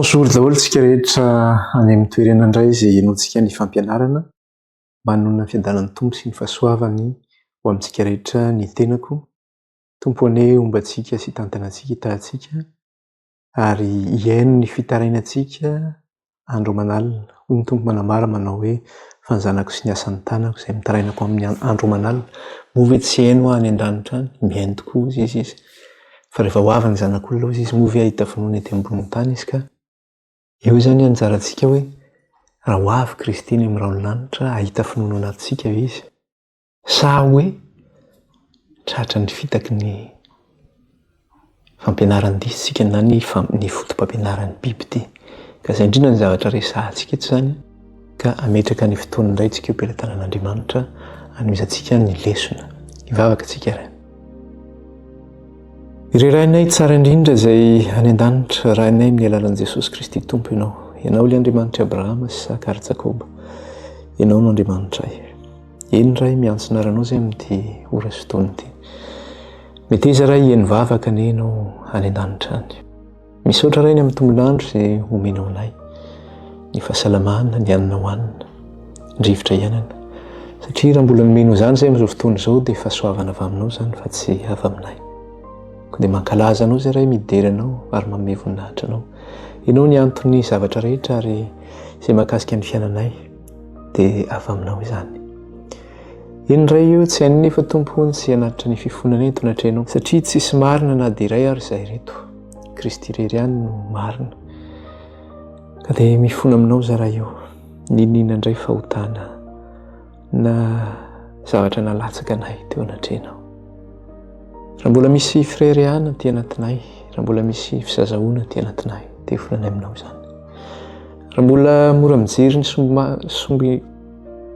Bonjour daholo tsika rehetra any amin'ny toerana indray izay henoantsika ny fampianarana. Manonona ny fiadanan'ny Tompo sy ny fahasoavany ho amintsika rehetra ny tenako. Tompo anie homba antsika sy hitantana antsika, hitahy antsika. ary hihaino ny fitarainantsika andro aman'alina. Hoy ny Tompo manambara manao hoe, Fa ny zanako sy ny asan'ny tanako izay mitarainako amin'ny an- andro aman'alina. Moa ve tsy heno aho any an-danitra any? Mihaino tokoa, hoy Izy, izy. Fa rehefa ho avy ny Zanak'olona, hoy Izy, moa ve hahita finoana ety ambonin'ny tany izy ka? Eo izany anjarantsika hoe, raha ho avy Kristy ny amin'ny rahon'ny lanitra, hahita finoana ao anatintsika ve Izy? Sa hoe tratra ny fitaky ny fampianaran-disintsika na ny ny fotopampianaran'ny biby ity? Ka izay indrindra ny zavatra resahantsika eto izany ka hametraka ny fotoana indray tsika eo am-pelatanan'Andriamanitra hanomezantsika ny lesona. Hivavaka tsika ary. Ry Rainay tsara indrindra izay any an-danitra, Rainay amin'ny alalan'i Jesosy Kristy Tompo Ianao. Ianao ilay Andriamanitr'i Abrahama, Isaka ary Jakoba. Ianao no Andriamanitray. Eny Ray, miantso ny aranao zay amin'ity ora sy taona ity. Meteza Ray hihaino vavaka ny Enao any an-danitra any. Misaotra Ray ny amin'ny tombolandro izay omenao anay, ny fahasalamana, ny hanina hohanina, ny rivotra iainana. Satria raha mbola nomenao izany izay amin'izao fotoana izao dia fahasoavana avy aminao izany fa tsy avy aminay. Koa dia mankalaza anao izay Ray midera anao ary manome voninahitra anao. Enao ny anton'ny zavatra rehetra ary izay mahakasika ny fiainanay. dia avy aminao izany. Eny ray io tsy hain'ny nefa tompo ny tsy hanatitra ny fifonana eto natrehanao satria tsisy marina na dia iray ary izay reto. Kristy irery ihany no marina. Ka dia mifona aminao za ray io. Niniana indray fahotana na zavatra nalatsaka anay teo anatrehanao. Raha mbola misy frere ihany aty anatinay, raha mbola misy fisazahoana aty anatinay, dia volana aminao izany. Raha mbola mora mijery ny sombi sombi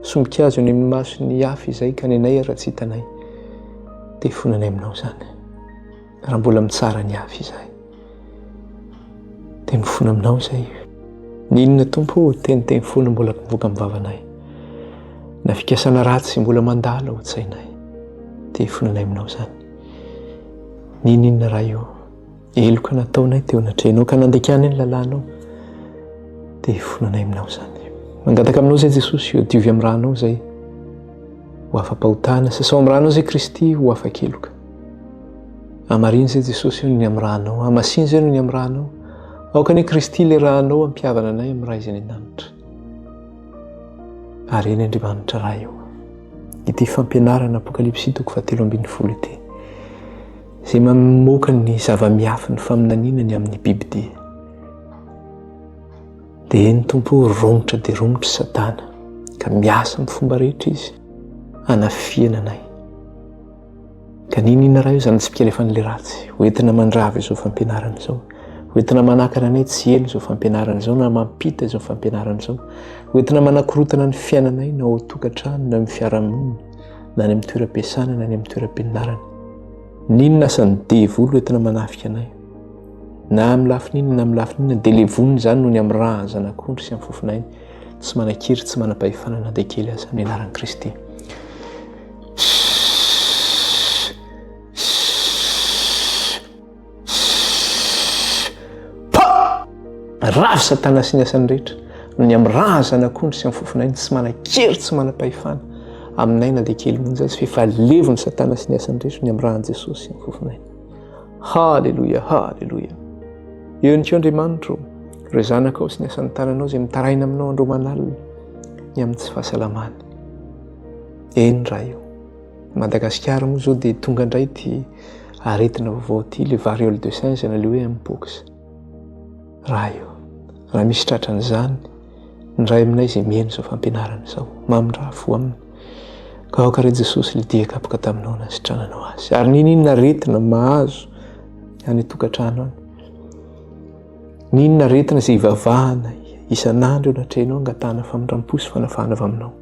sombin-kazo eny amin'ny mason'ny hafa izay ka ny anay raha tsy hitanay dia fonanay aminao izany. Raha mbola mitsara ny hafa izahay dia mifona aminao izay. Ny inona Tompo ô, teniteny foana mbola mivoaka amin'ny vavanay, na fikasana ratsy mbola mandalo ao an-tsainay dia fonanay aminao izany. Ny inona Ray ô. Heloka nataonay teo anatrehanao ka nandekanay ny lalànao dia hifonanay aminao izany. Mangataka aminao izay Jesosy eo diovy amin'ny ranao izay ho afa-pahotana, sasao amin'ny ranao izay Kristy ho afa-keloka. Amarino izay Jesosy eo ny amin'ny ranao, amasino izay ny amin'ny ranao. Aoka ny Kristy ilay ranao ampihavana anay amin'ny Ray izay ny an-danitra. Ary eny Andriamanitra Ray eo. Ity fampianarana Apokalypsy toko fahatelo ambin'ny folo ity. Izay mamoaka ny zava-miafy ny faminaniana ny amin'ny bibidia, dia eny Tompo o, romotra dia romotra i Satana, ka miasa amin'ny fomba rehetra izy hanafihana anay. Ka niniana raha eo izany tsipika alefan'ilay ratsy, ho entina mandrava izao fampianarana izao, ho entina manakana anay tsy heno izao fampianarana izao na mampita izao fampianarana izao, ho entina manakorotana ny fiainanay na ao an-tokantrano na amin'ny fiarahamonina, na any amin'ny toeram-piasana na any amin'ny toeram-pianarana. N'inona asan'ny devoly entina manafika anay. Na amin'ny lafin'inona na amin'ny lafin'inona dia levonina izany noho ny amin'ny raha zanak'ondry sy amin'ny fofon'ainy tsy manan-kery tsy manam-pahefana na dia kely aza ny anaran'i Kristy. pa rafy satana sy ny asany rehetra no ny amin'ny razana akondry sy amin'ny fofonay ny tsy manan-kery tsy manam-pahefana aminay na dia kely monja azy f'efa levon'ny satana sy ny asany rehetra ny amin'ny rahan'i Jesosy sy amin'ny fofonay haleloia haleloia eo ihany koa andriamanitro ireo zanakao sy ny asan'ny tananao izay mitaraina aminao andromanalina ny amin'ny tsy fahasalamany eny raha io Madagasikara moa zao dia tonga indray ity aretina vaovao ity, le variole de singe na le hoe mpox. Raha io, raha misy tratra an'izany, ny ray aminay izay mihaino izao fampianarana izao, mamindraha fo aminy. Ka aoka re Jesosy le dia kapoka taminao na sitrananao azy. Ary n'inon'inona aretina mahazo any an-tokantrano any. N'inona aretina izay ivavahana isan'andro eo anatrehanao angatahana famindram-po sy fanafahana avy aminao.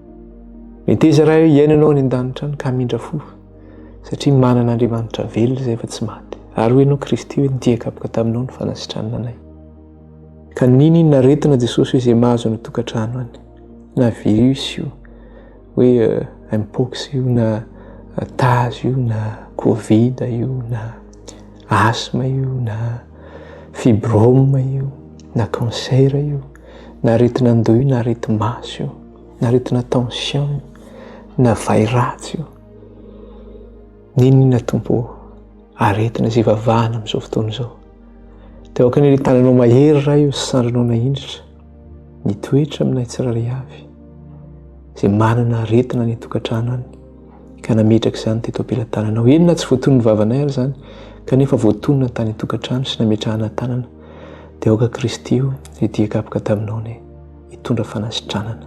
Meteza raha hiainanao any an-danitra any ka mindra fo satria manana Andriamanitra velona izay fa tsy maty. Ary hoy ianao Kristy hoe ny dian-kapoka taminao no fanasitranana anay. Ka nini ny naretina Jesosy hoe izay mahazo any tokantrano any na virus io hoe euh, mpox io na euh, taz io na covid io na asthme io na fibrome io na cancer io. na aretin'andoha io na areti-maso io na aretina tension io na vay ratsy io n'inona tompo aretina izay vavahana amin'izao fotoana izao dia aoka ny tananao mahery ray io sandrinao na indritra mitoetra aminay tsirairay avy izay manana aretina ny tokantrano any ka nametraka izany teto am-pelatananao inona tsy voaton'ny vavanay ary izany kanefa voatonina tany tokantrano sy nametrahana tanana Dia aoka Kristy o, hidia kapoka taminao anie, hitondra fanasitranana.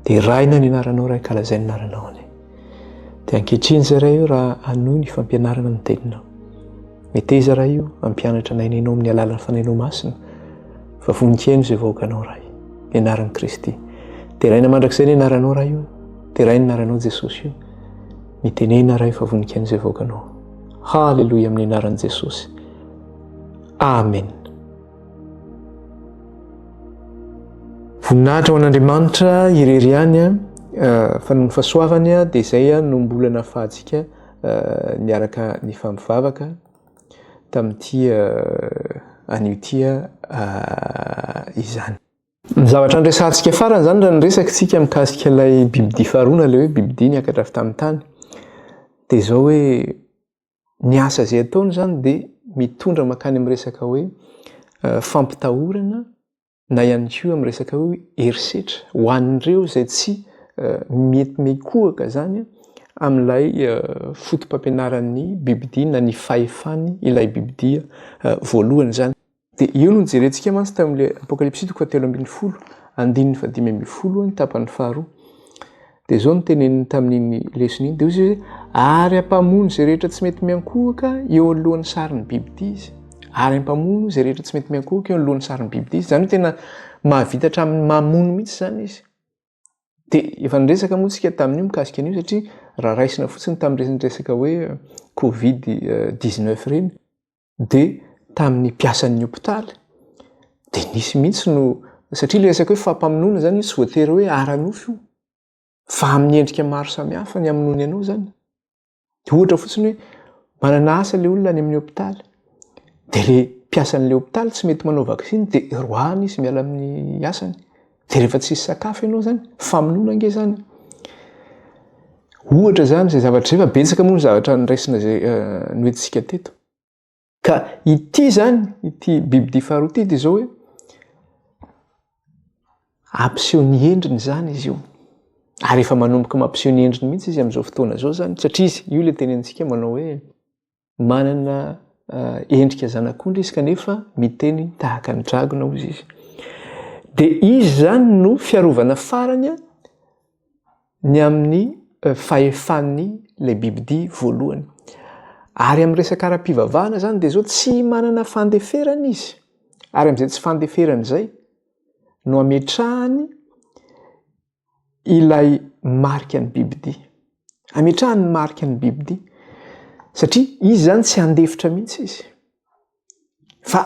Deraina ny anaranao Ray, kalazay ny anaranao anie. Dia ankehitriny izay Ray o, raha hanohy ny fampianarana ny teninao. Meteza Ray o, hampianatra anay ny Hainao amin'ny alalan'ny Fanahinao Masina, fa voninkaino izay vahoakanao Ray. Ny anaran'i Kristy. Deraina mandrakizay ny anaranao Ray o, deraina ny anaranao Jesosy o. Mitenena Ray fa voninkaino izay vahoakanao. Haleloia amin'ny anaran'i Jesosy. Amen. Voninahitra ho an'Andriamanitra irery ihany a, eh, fa noho ny fahasoavany a, dia izay a no mbola nahafahantsika eh, niaraka nifampivavaka tamin'ity eh, anio ity izany. Ny zavatra niresahantsika farany izany raha niresakitsika mikasika ilay bibidia faharoana, ilay hoe bibidia niakatra avy tamin'ny tany, dia izao hoe ny asa izay ataony izany dia mitondra makany amin'ny resaka hoe eh, fampitahorana na ihany koa amin'ny resaka hoe herisetra ho an'ireo izay tsy eh, mety mikohaka izany amin'ilay eh, fotopampianaran'ny bibidia na ny fahefany ilay bibidia voalohany izany Dia io no nijerentsika mantsy tamin'ilay Apokalypsy toko fahatelo ambin'ny folo, andininy fahadimy ambin'ny folo, ny tapany faharoa. Dia izao no teneniny tamin'iny lesona iny. Dia hoy izy, ary hampamono izay rehetra tsy mety miankohoka eo anoloan'ny sarin'ny biby tia izy. Ary hampamono izay rehetra tsy mety miankohoka eo anoloan'ny sarin'ny biby tia izy. Izany hoe tena mahavita hatramin'ny mamono mihitsy izany izy. Dia efa niresaka moa tsika tamin'io mikasika an'io satria raha raisina fotsiny tamin'ireny resaka hoe Covid 19 ireny. dia tamin'ny mpiasan'ny hopitaly dia nisy mihitsy no satria ilay resaka hoe fampamonoana izany io tsy voatery hoe ara-nofo io fa amin'ny endrika maro samihafa ny hamonoany anao izany. Dia ohatra fotsiny hoe manana asa ilay olona any amin'ny hopitaly dia ilay mpiasan'ilay hopitaly tsy mety manao vaksiny dia roahany izy miala amin'ny asany. de rehefa tsisy sakafo ianao zany famonoana ange zany ohatra zany zay zavatra zay fa betsaka moa ny zavatra nyraisina zay eh, nohiditsika teto ka ity zany ity biby di faharoa ty de zao hoe ampiseho ny endriny zany izy io ary efa manomboka mampiseho ny endriny mihitsy izy am'izao fotoana zao zany satria izy io le tenentsika manao hoe manana endrika zanak'ondry izy kanefa miteny tahaka ny dragona hoy izy. Dia izy zany no fiarovana farany ny amin'ny fahefan'ny le bibidi voalohany. Ary amin'ny resaka ara-pivavahana zany dia zao tsy manana fandeferana izy. Ary amin'izay tsy fandeferana izay no ametrahany ilay marika ny bibidia. Ametrahany ny marika ny bibidia satria izy zany tsy handefitra mihitsy izy. Fa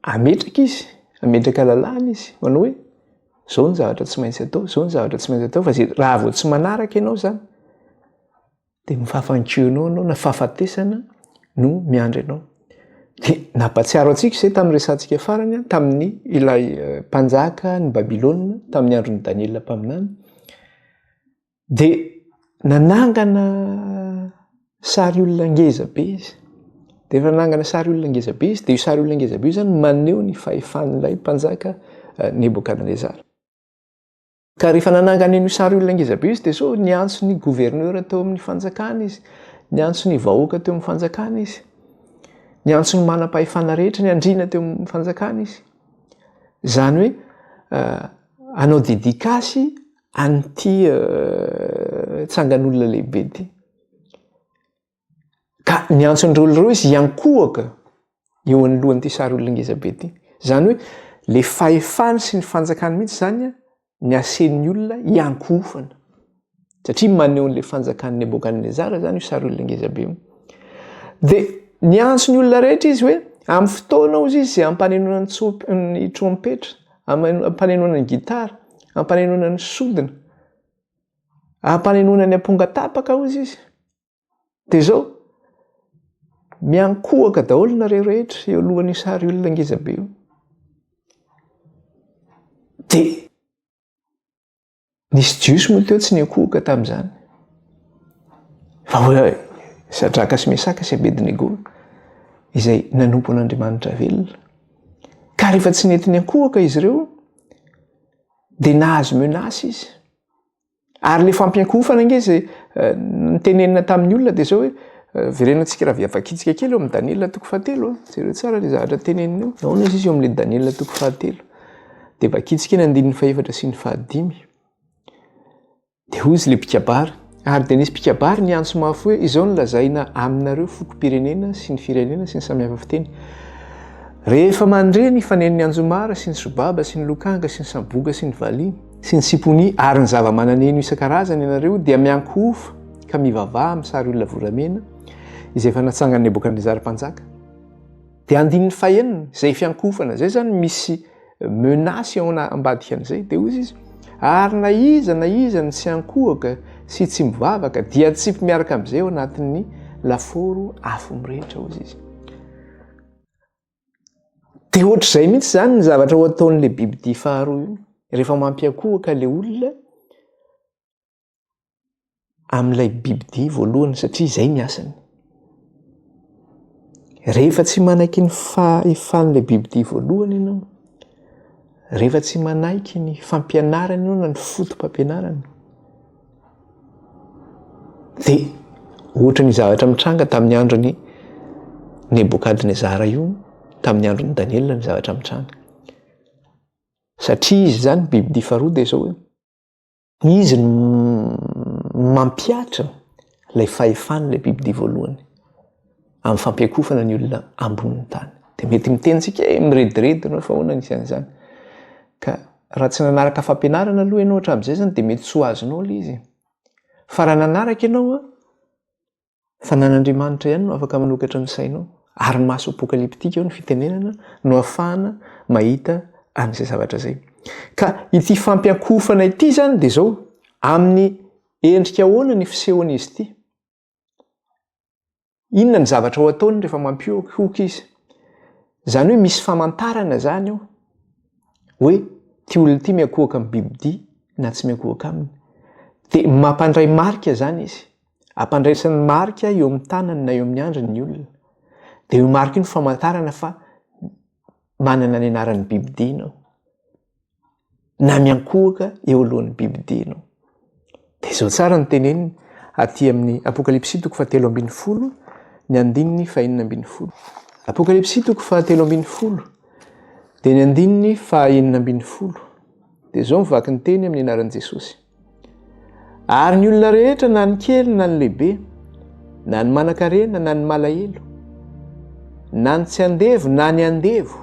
ametraka izy, ametraka lalàna izy, manao hoe zao ny zavatra tsy maintsy atao, zao ny zavatra tsy maintsy atao fa zay raha vao tsy manaraka ianao zany dia ny fahafankianao anao na fahafatesana no miandry anao. Dia nampatsiaro antsika izay tamin'ny resantsika farany tamin'ny ilay eh, mpanjaka ny Babylona tamin'ny andron'i Daniela mpaminany. Dia nanangana sary olona ngeza be izy. Dia efa nanangana sary olona ngeza be izy, dia io sary olona ngeza be io zany maneho ny fahefan'ilay mpanjaka eh, Nebokadnezara. Ka rehefa nanangana an'io sary olona ngeza be io Steso, niantso ny gouverneur teo amin'ny fanjakana izy, niantso ny vahoaka teo amin'ny fanjakana izy, niantso ny manam-pahefana rehetra, ny andriana teo amin'ny fanjakana izy. Izany hoe hanao dédicace an'ity tsangan'olona lehibe ity. Ka niantso ny Rolls Royce hiankohoka eo anoloan'ity sary olona ngeza be ity. Izany hoe le fahefany sy ny fanjakany mihitsy izany ny asen'ny olona hiankohofana. Satria maneho an'le fanjakan'i Nebokadnezara izany io sary olona ngeza be io. Dia niantso ny olona rehetra izy hoe amin'ny fotoana hozy izy izay ampanenoana ny tsomp- ny trompetra, ampanenoana ny gitara, ampanenoana ny sodina, ampanenoana ny amponga tapaka hozy izy. Dia izao, miankohoka daholo nareo rehetra eo alohan'io sary olona ngeza be io. Dia nisy jiosy moa teo tsy niankohoka tamin'izany. Fa hoe Sadraka sy Mesaka sy Abednego izay nanompo an'Andriamanitra velona. Ka rehefa tsy nety niankohoka izy ireo dia nahazo menace izy. Ary le fampiankohofana nge zay eh, nitenenina tamin'ny olona dia zao hoe eh, verenantsika raha viavakitsika kely eo amin'ny Daniela toko fahatelo. Eh. Jereo tsara le zavatra tenenina eo. Nahoana izy izy eo amin'le Daniela toko fahatelo. Dia vakitsika ny andininy fahefatra sy ny fahadimy. Dia hoy izy le mpikabary. Ary dia nisy mpikabary ny antso mafy hoe izao ny lazaina aminareo fokom-pirenena sy ny firenena sy ny samihafa fiteny. Rehefa mandre ny fanen'ny anjomara sy ny sobaba sy ny lokanga sy ny samboga sy ny valiana. sy ny simponia ary ny zava-mananeno isan-karazany ianareo dia miankohofa ka mivavaha amin'ny sary olona volamena izay efa natsangan'i Nebokadnezara mpanjaka. Dia andininy fahenina, izay fiankohofana izay izany misy menace ao ambadikan'izay, dia hoy izy, ary na iza na iza ny tsy ankohoka sy tsy mivavaka dia atsipy miaraka amin'izay ao anatin'ny lafaoro afo mirehitra, hoy izy. Dia ohatr'izay mihitsy izany ny zavatra ho ataon'ilay bibidia faharoa io. Rehefa mampiankohoka ilay olona amin'ilay bibidia voalohany satria izay ny asany. Rehefa tsy manaiky ny fahefan'ilay bibidia voalohany ianao, rehefa tsy manaiky ny fampianarany eo na ny fotopampianarany, dia ohatra ny zavatra mitranga tamin'ny andron'ny Nebokadnezara io tamin'ny andron'i Daniela ny zavatra mitranga. Satria izy zany bibidia faharoa dia izao hoe izy no mampiatra ilay fahefan'ilay bibidia voalohany. amin'ny fampiakofana ny olona ambonin'ny tany. Dia mety miteny tsika hoe mirediredy ianao fa ahoana ny isan'izany. Ka raha tsy nanaraka fampianarana aloha ianao hatramin'izay izany dia mety tsy ho azonao ilay izy. Fa raha nanaraka ianao an, fa nan'Andriamanitra ihany no afaka manokatra ny sainao, ary maso apokaliptika eo ny fitenenana no ahafahana mahita an'izay zavatra izay. Ka ity fampiankofana ity izany dia izao, amin'ny endrika ahoana ny fisehon'izy ity? Inona ny zavatra ho ataony rehefa mampihohoka izy? Izany hoe misy famantarana izany eo hoe ity olona ity miankohoka amin'ny bibidia na tsy miankohoka aminy. Dia mampandray marika izany izy. Ampandraisany marika eo amin'ny tanany na eo amin'ny andriny ny olona. Dia io marika io ny famantarana fa manana ny anaran'ny bibidia ianao. na miankohoka eo alohan'ny bibidiana. Dia izao tsara ny teneniny aty amin'ny Apokalypsy toko fahatelo ambin'ny folo ny andininy fahenina ambin'ny folo. Apokalypsy toko fahatelo ambin'ny folo dia ny andininy fahenina ambin'ny folo. Dia izao ny vaky ny teny amin'ny anaran'i Jesosy. Ary ny olona rehetra na ny kely na ny lehibe, na ny manankarena na ny malahelo, na ny tsy andevo na ny andevo,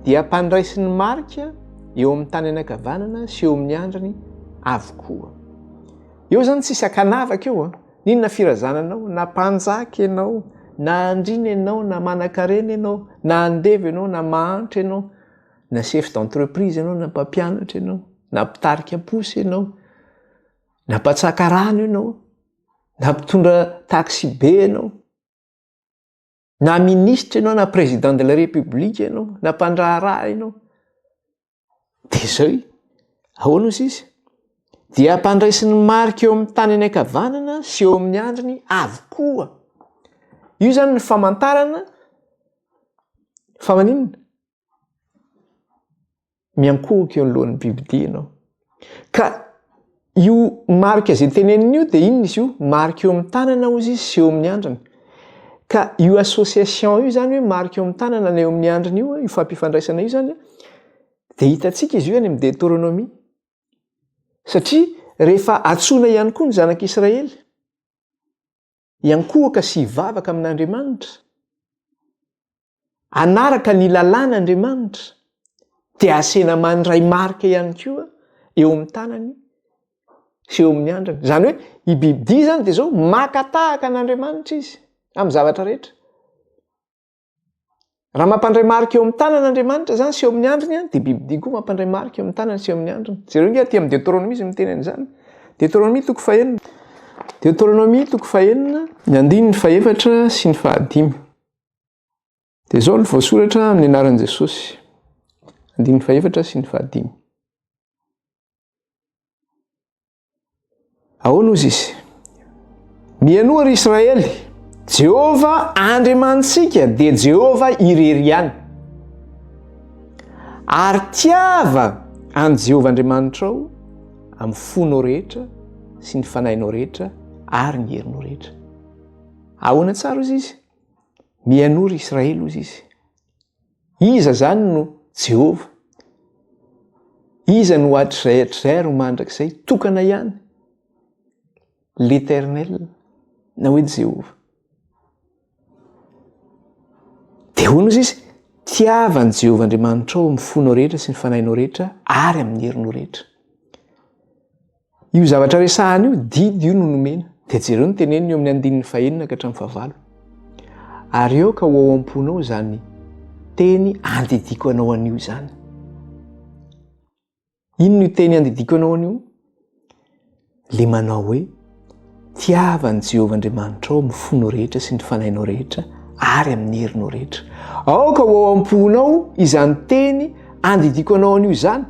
dia mpandraisin'ny marika eo amin'ny tany anakavanana sy eo amin'ny andrany avokoa. Eo zany tsisy akanavaka eo a. N'inona firazana anao, na mpanjaka ianao, na andriana ianao, na manankarena ianao, na andevo ianao, na mahantra ianao, na chef d'entreprise ianao na mpampianatra ianao na mpitarika posy ianao na mpatsaka rano ianao na mpitondra taxi be ianao na ministra ianao na président de la république ianao na mpandraharaha ianao de zay ahoana o sisa dia ampandraisin'ny marika eo amin'ny tany any ankavanana sy eo amin'ny andriny avokoa io zany ny famantarana fa maninona Miankohoka eo anoloan'ny bibidia ianao. Ka io marika izay teneniny io dia inona izy io? Marika eo amin'ny tanana hozy izy sy eo amin'ny andriny. Ka io association io izany hoe marika eo amin'ny tanana na eo amin'ny andriny io, io fampifandraisana io izany dia hitantsika izy io any amin'ny Deteronomia. Satria rehefa antsoina ihany koa ny zanak'Israely, hiankohoka sy hivavaka amin'Andriamanitra, hanaraka ny lalàn'Andriamanitra, dia asena mandray marika ihany koa eo amin'ny tanany sy eo amin'ny andrany. Izany hoe i bibidia izany dia izao maka tahaka an'Andriamanitra izy amin'ny zavatra rehetra. Raha mampandray marika eo amin'ny tanana Andriamanitra izany sy eo amin'ny andriny, dia bibidia koa mampandray marika eo amin'ny tanany sy eo amin'ny andriny. Jereo nge aty amin'ny Deuteronomie izy miteny an'izany. Deuteronomie toko fahenina. Deuteronomie toko fahenina, ny andininy fahefatra sy ny fahadimy. Dia izao no voasoratra amin'ny anaran'i Jesosy. Andininy fahefatra sy ny fahadimy. Ahoana hozy izy? Mianoa ry Israely, Jehovah Andriamanitsika dia Jehovah irery ihany. Ary tiava an'i Jehovah Andriamanitrao amin'ny fonao rehetra sy ny fanahinao rehetra ary ny herinao rehetra. Ahoana tsara hozy izy? Mianoa ry Israely hozy izy. Iza izany no Jehovah? Iza no hatrizay hatrizay ary ho mandrakizay? Tokana ihany, L'Eternel, na hoe Jehovah. Dia hoy Mosesy, Tiava an'i Jehovah Andriamanitrao amin'ny fonao rehetra sy ny fanahinao rehetra ary amin'ny herinao rehetra. Io zavatra resahana io, didy io no nomena. Dia jereo ny teneniny eo amin'ny andininy fahenina ka hatramin'ny fahavalo. Ary aoka ho ao am-ponao izany teny andidiako anao anio izany. Inona io teny andidiako anao anio? Le manao hoe Tiavan'i Jehovah Andriamanitrao amin'ny fonao rehetra sy ny fanahinao rehetra ary amin'ny herinao rehetra. Aoka ho ao am-ponao izany teny andidiako anao anio izany.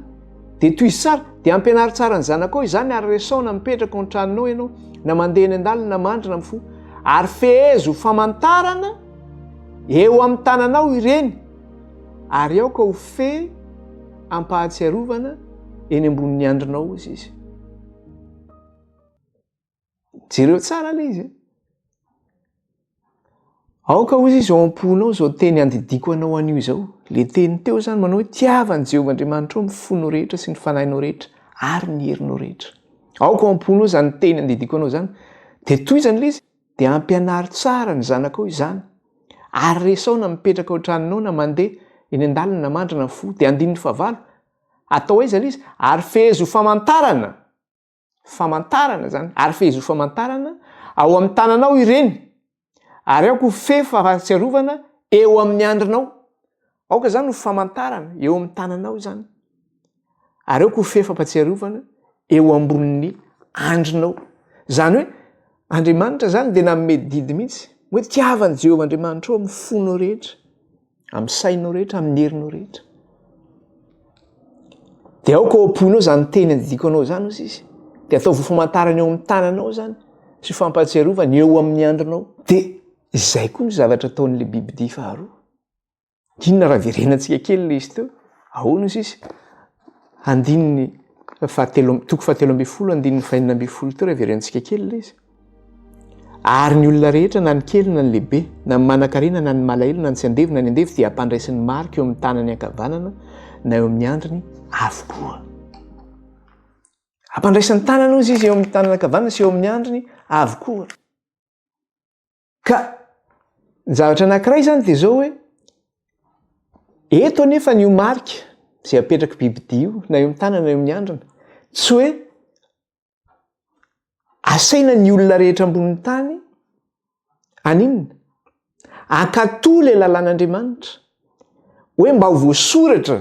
Dia tohizo tsara, dia ampianaro tsara ny zanakao izany ary resaho na mipetraka ao an-tranonao ianao, na mandeha eny an-dalana na mandrina amin'ny fo. Ary fehezo ho famantarana eo amin'ny tananao ireny ary aoka ho fe am-pahatsiarovana eny ambonin'ny andrinao izy. jereo tsara le izy aoka ozy izy ao am-ponao zao teny andidiako anao an'io izao le teny teo zany manao hoe tiavany jehovah andriamanitra ao mifono rehetra sy ny fanahinao rehetra ary ny herinao rehetra aoka ao am-ponao zany teny andidiako anao zany de toy izany le izy de ampianaro tsara ny zanakao izany ary resao na mipetraka ao tranonao na mandeha eny an-dalana mandrana fo de andininy fahavalo atao aiza le izy ary fehezo famantarana famantarana zany ary fehezo famantarana ao amin'ny tananao ireny ary aoka ho fefy fahatsiarovana eo amin'ny andrinao aoka izany ho famantarana eo amin'ny tananao izany ary aoka ho fefy fampatsiarovana eo ambonin'ny andrinao zany hoe Andriamanitra zany dia nanome didy mihitsy hoe tiavan'i Jehovah Andriamanitra ao amin'ny fonao rehetra amin'ny sainao rehetra, amin'ny herinao rehetra. Dia aoka ao am-ponao izany teny andidiko anao izany hoy izy. Dia ataovy famantarana eo amin'ny tananao izany sy fampahatsiarovana eo amin'ny andronao. Dia izay koa ny zavatra ataon'ilay bibidia faharoa. Inona raha verenantsika kely ilay izy teo? Ahoana hoy izy? Andininy fahatelo toko fahatelo ambin'ny folo andininy fahenina ambin'ny folo teo raha verenantsika kely ilay izy. Ary ny olona rehetra, na ny kely na ny lehibe, na ny manankarena na ny malahelo, na ny tsy andevo na ny andevo, dia hampandraisy ny marika eo amin'ny tanany ankavanana na eo amin'ny andriny avokoa. Hampandraisy ny tanany, hoy izy, eo amin'ny tanany ankavanana sy eo amin'ny andriny avokoa. Ka ny zavatra anankiray izany dia izao hoe, eto anefa an'io marika izay apetrak'i bibidia io, na eo amin'ny tanana na eo amin'ny handrina, tsy hoe asaina ny olona rehetra ambonin'ny tany haninona? Hankatò ilay lalàn'Andriamanitra, hoe mba ho voasoratra.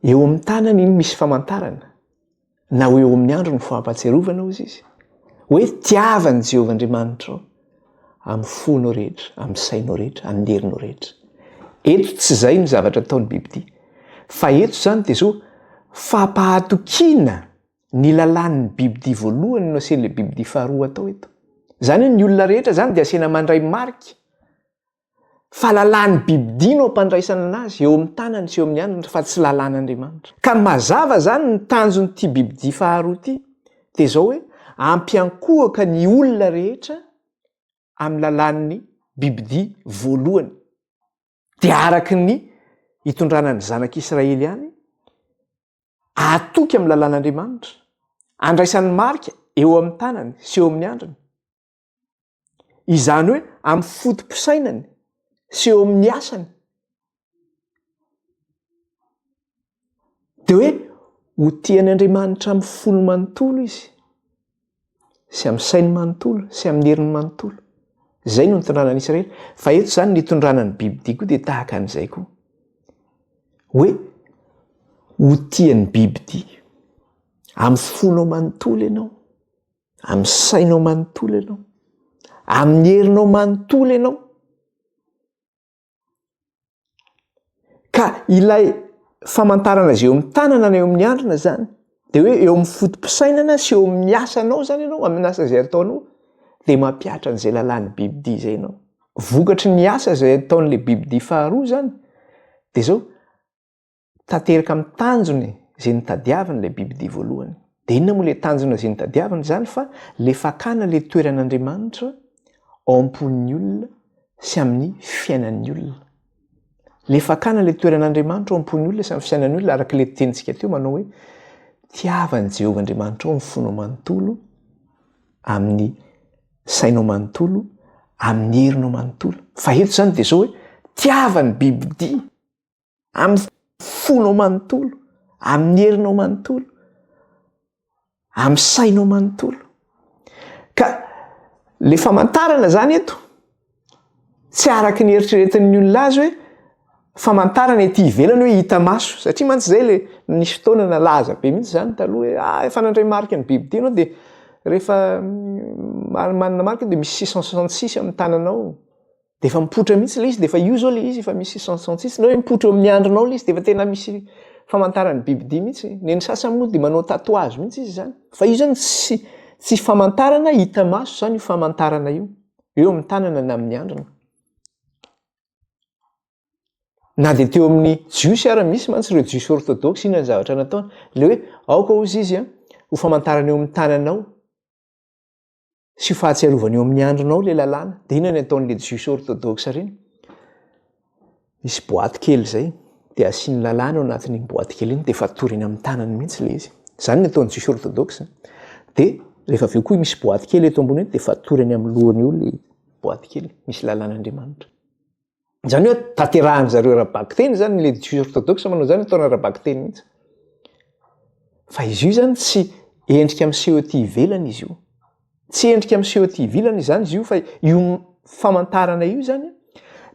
Eo amin'ny tanany iny misy famantarana na ho eo amin'ny andro ny fahampatsiarovana hozy izy hoe tiavan'i Jehovah Andriamanitrao amin'ny fonao rehetra, amin'ny sainao rehetra, amin'ny herinao rehetra. Eto tsy izay ny zavatra ataon'ny bibidia. Fa eto izany dia zao fampahatokiana ny lalàn'ny bibidia voalohany no asian'ilay bibidia faharoa atao eto. Izany hoe ny olona rehetra izany dia asiana mandray marika fa lalàn'ny bibidia no ampandraisana anazy eo amin'ny tanany sy eo amin'ny andriny fa tsy lalàn'Andriamanitra. Ka ny mazava izany ny tanjon'ity bibidia faharoa ity dia izao hoe ampiankohoka ny olona rehetra amin'ny lalàn'ny bibidia voalohany dia araka ny itondrana ny zanak'Israely ihany atoky amin'ny lalàn'Andriamanitra andraisany marika eo amin'ny tanany sy eo amin'ny andriny izany hoe amin'ny foto-pisainany sy eo amin'ny asany de hoe ho tia an' Andriamanitra amin'ny fony manontolo izy sy amin'ny sainy manontolo sy amin'ny heriny manontolo izay no nitondrana an'i Israely fa eto izany ny hitondrana ny bibidia koa dia tahaka an'izay koa hoe ho tian'ny bibidia amin'ny fonao manontolo ianao amin'ny sainao manontolo ianao amin'ny herinao manontolo ianao ka ilay famantarana izay eo amin'ny tanana na eo amin'ny andrina zany de hoe eo amin'ny fotom-pisainana sy eo amin'ny asanao zany ianao amin'ny asa izay ataonao de mampihatra an'izay lalàn'ny bibidi izay ianao vokatry ny asa izay ataon'la bibidi faharoa zany de zao tanteraka amin'ny tanjony izay nitadiaviny ilay bibidia voalohany. Dia inona moa ilay tanjona izay nitadiaviny izany fa ilay fakana ilay toeran'Andriamanitra ao am-pon'ny olona sy amin'ny fiainan'ny olona. Ilay fakana ilay toeran'Andriamanitra ao am-pon'ny olona sy amin'ny fiainan'ny olona araka ilay tenintsika teo manao hoe tiavan'i Jehovah Andriamanitra ao ny fonao manontolo amin'ny sainao manontolo amin'ny herinao manontolo. Fa eto izany dia izao hoe tiavan'ny bibidia amin'ny fonao manontolo, amin'ny herinao manontolo, amin'ny sainao manontolo. Ka le famantarana zany eto tsy araka ny eritreretin'ny olona azy hoe famantarana ety ivelany hoe hita maso satria mantsy zay le nisy fotoana nalaza be mihitsy zany taloha hoe ah efa nandray marika ny bibidia ianao de rehefa manana marika de misy six cent soixante six amin'ny tananao. dia efa mipoitra mihitsy ilay izy, dia efa io izao ilay izy, efa misy isantsisany, na hoe mipoitra eo amin'ny andrinao ilay izy, dia efa tena misy famantaran'ny bibidia mihitsy. Ny an'ny sasany moa dia manao tatouage mihitsy izy izany. Fa io izany tsy tsy famantarana hita maso izany io famantarana io, eo amin'ny tanana na amin'ny andrina. Na dia teo amin'ny jiosy ary misy mantsy ireo jiosy orthodoxe inona ny zavatra nataony. Ilay hoe aoka hozy izy an, ho famantarana eo amin'ny tananao. sy fahatsiarovana eo amin'ny andronao le lalàna de inona ny ataon'le jiosy orthodoxe ireny misy boaty kely zay de asian'ny lalàna ao anatin'iny boaty kely iny de fatoriny eny amin'ny tanany mihitsy le izy zany ny ataon'ny jiosy orthodoxe de rehefa avy eo koa misy boaty kely eto ambony eo de fatoriny amin'ny lohany eo le boaty kely misy lalàn'Andriamanitra Izany hoe tanterahin-dry zareo ara-bakiteny izany, ilay Jiosy orthodoxe manao izany ataony ara-bakiteny mihitsy. Fa izy io izany tsy endrika miseho ety ivelany izy io. Tsy endrika miseho ety ivelany izany izy io fa io famantarana io izany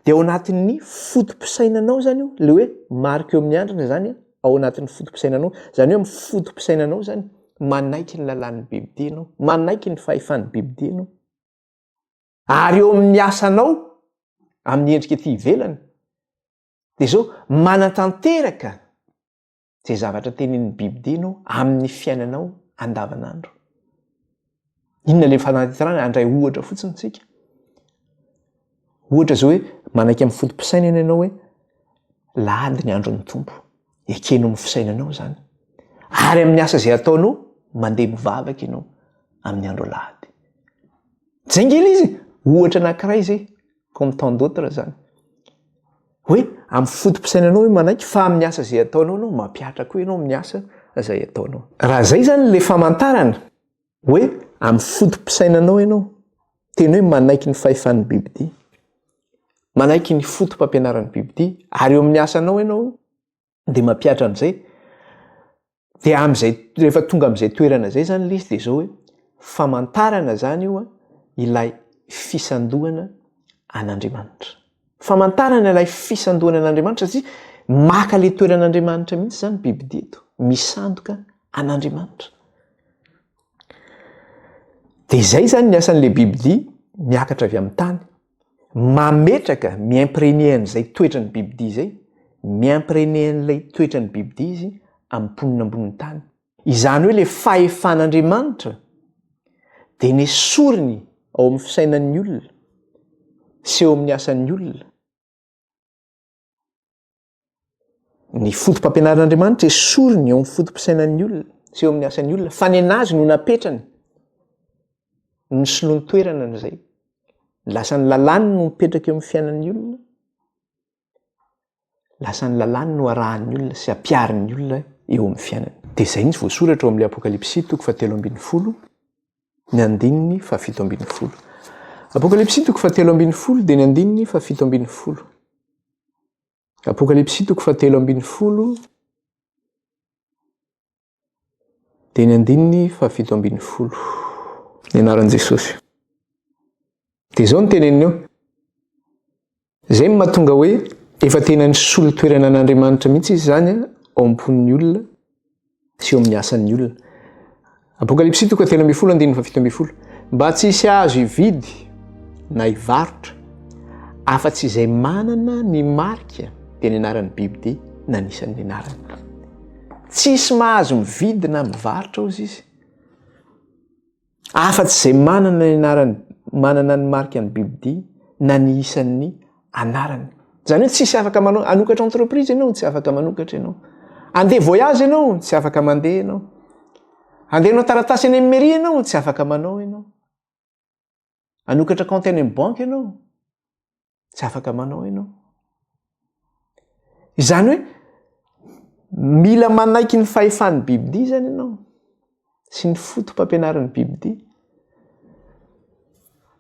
dia ao anatin'ny foto-pisainanao izany io, ilay hoe marika eo amin'ny andrina izany ao anatin'ny foto-pisainanao. Izany hoe amin'ny foto-pisainanao izany manaiky ny lalàn'ny Biblia ianao, manaiky ny fahefan'ny Biblia ianao. Ary eo amin'ny asanao amin'ny endrika ety ivelany dia izao manatanteraka izay zavatra tenenin'ny Bible ianao amin'ny fiainanao andavanandro. Inona ilay fanatanterahana? Handray ohatra fotsiny isika. Ohatra izao hoe manaiky amin'ny foto-pisainana ianao hoe lahady ny andron'ny Tompo. ekeno amin'ny fisainanao zany ary amin'ny asa izay ataonao mandeha mivavaka ianao amin'ny andro alahady jingila izy ohatra anankiray izay comme tant d'autres zany hoe amin'ny fotom-pisainanao hoe manaiky fa amin'ny asa izay ataonao anao mampihatra koa ianao amin'ny asa izay ataonao raha zay zany le famantarana hoe amin'ny foto-pisainanao ianao, teny hoe manaiky ny fahefan'ny bibidia, manaiky ny foto-pampianaran'ny bibidia, ary eo amin'ny asanao ianao dia mampihatra an'izay, dia amin'izay rehefa tonga amin'izay toerana izay zany lisy dia zao hoe famantarana zany io ilay fisandohana an'Andriamanitra. Famantarana ilay fisandohana an'Andriamanitra satria maka ilay toeran'Andriamanitra mihitsy izany bibidia eto, misandoka an'Andriamanitra. Dia izay izany ny asan'ilay bibidia miakatra avy amin'ny tany. Mametraka, mi-imprégner an'izay toetran'ny bibidia izay, mi-imprégner an'ilay toetran'ny bibidia izy amin'ny mponina ambonin'ny tany. Izany hoe ilay fahefan'Andriamanitra dia nesoriny ao amin'ny fisainan'ny olona sy eo amin'ny asan'ny olona. Ny foto-pampianaran'Andriamanitra esoriny eo amin'ny foto-pisainan'ny olona sy eo amin'ny asan'ny olona fa ny anazy no napetrany ny solon-toerana an'izay. Ny lasan'ny lalàny no mipetraka eo amin'ny fiainan'ny olona. lasa ny lalàny no arahan'ny olona sy ampiharin'ny olona eo amin'ny fiainany. Dia izay mihitsy voasoratra ao amin'ilay Apokalypsy toko fahatelo ambin'ny folo, ny andininy fahafito ambin'ny folo. Apokalypsy toko fahatelo ambin'ny folo dia ny andininy fahafito ambin'ny folo. Apokalypsy toko fahatelo ambin'ny folo Dia ny andininy fahafito ambin'ny folo. Ny anaran'i Jesosy. Dia izao ny teneniny eo. Izay no mahatonga hoe efa tena nisolo toerana an'Andriamanitra mihitsy izy izany ao am-pon'ny olona sy eo amin'ny asan'ny olona. Apokalypsy toka telo ambin'ny folo andininy fahafito ambin'ny folo. Mba tsy hisy azo hividy na hivarotra afa-tsy izay manana ny marika dia ny anaran'ny bibidia na ny isan'ny anarany. Tsisy mahazo mividy na mivarotra ozy izy. Afatsy izay manana ny anarany, manana ny marika ny bibidia na ny isan'ny anarany. Zany hoe tsisy afaka manao anokatra entreprise ianao, tsy afaka manokatra ianao. Andeha voyage ianao, tsy afaka mandeha ianao. Andeha hanao taratasy any amin'ny mairie ianao, tsy afaka manao ianao. anokatra kaonty any amin'ny banky ianao tsy afaka manao ianao izany hoe mila manaiky ny fahefan'ny bibidia zany ianao sy ny fotompampianarin'ny bibidia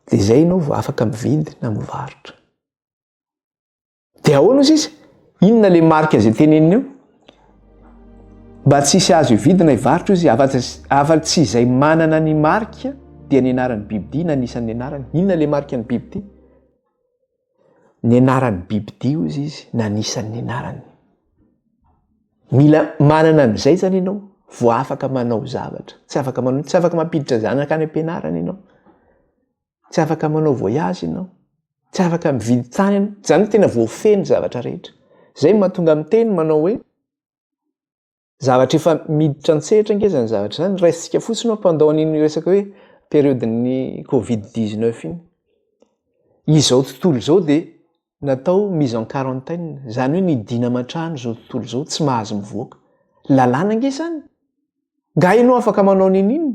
de zay ianao vao afaka mividy na mivarotra Dia ahoana hoy sisa? Inona ilay marika izay teneniny eo? Mba tsy hisy azo hividina hivarotra izy afa tsy izay manana ny marika dia ny anaran'ny bibidia na ny isan'ny anarany. Inona ilay marika ny bibidia? Ny anaran'ny bibidia hoy izy na ny isan'ny anarany. Mila manana an'izay zany ianao vao afaka manao zavatra. Tsy afaka manao, tsy afaka mampiditra zanaka any am-pianarana ianao. tsy afaka manao voyage ianao, tsy afaka mividy tany ianao, izany hoe tena voafehy ny zavatra rehetra. Izay no mahatonga miteny manao hoe zavatra efa miditra an-tsehatra ange izany zavatra izany, raisintsika fotsiny hoe pendant an'iny resaka hoe période-n'ny covid dix-neuf iny. Izao tontolo izao dia natao mise en quarantaine, izany hoe nidina aman-trano izao tontolo izao, tsy mahazo mivoaka. Lalàna ange izany. Nga ianao afaka manao niniana?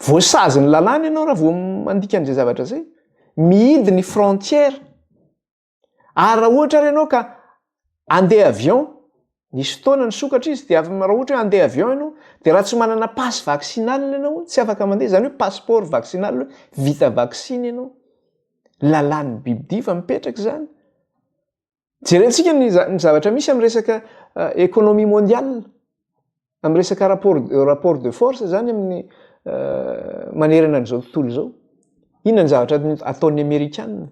Voasazy ny lalàna ianao raha vao mandika an'izay zavatra izay. Mihidy ny frontières. Ary raha ohatra ary ianao ka Andeha avion, nisy fotoana nisokatra izy dia avy raha ohatra hoe andeha avion ianao dia raha tsy manana passe vaccinal ianao tsy afaka mandeha, izany hoe passeport vaccinal hoe vita vaksiny ianao. Lalàn'ny biby dia efa mipetraka izany. Jerentsika ny zavatra misy amin'ny resaka économie mondiale. Amin'ny resaka rapport, rapport de force zany amin'ny manerana an'izao tontolo izao. Inona ny zavatra ataon'ny Amerikana?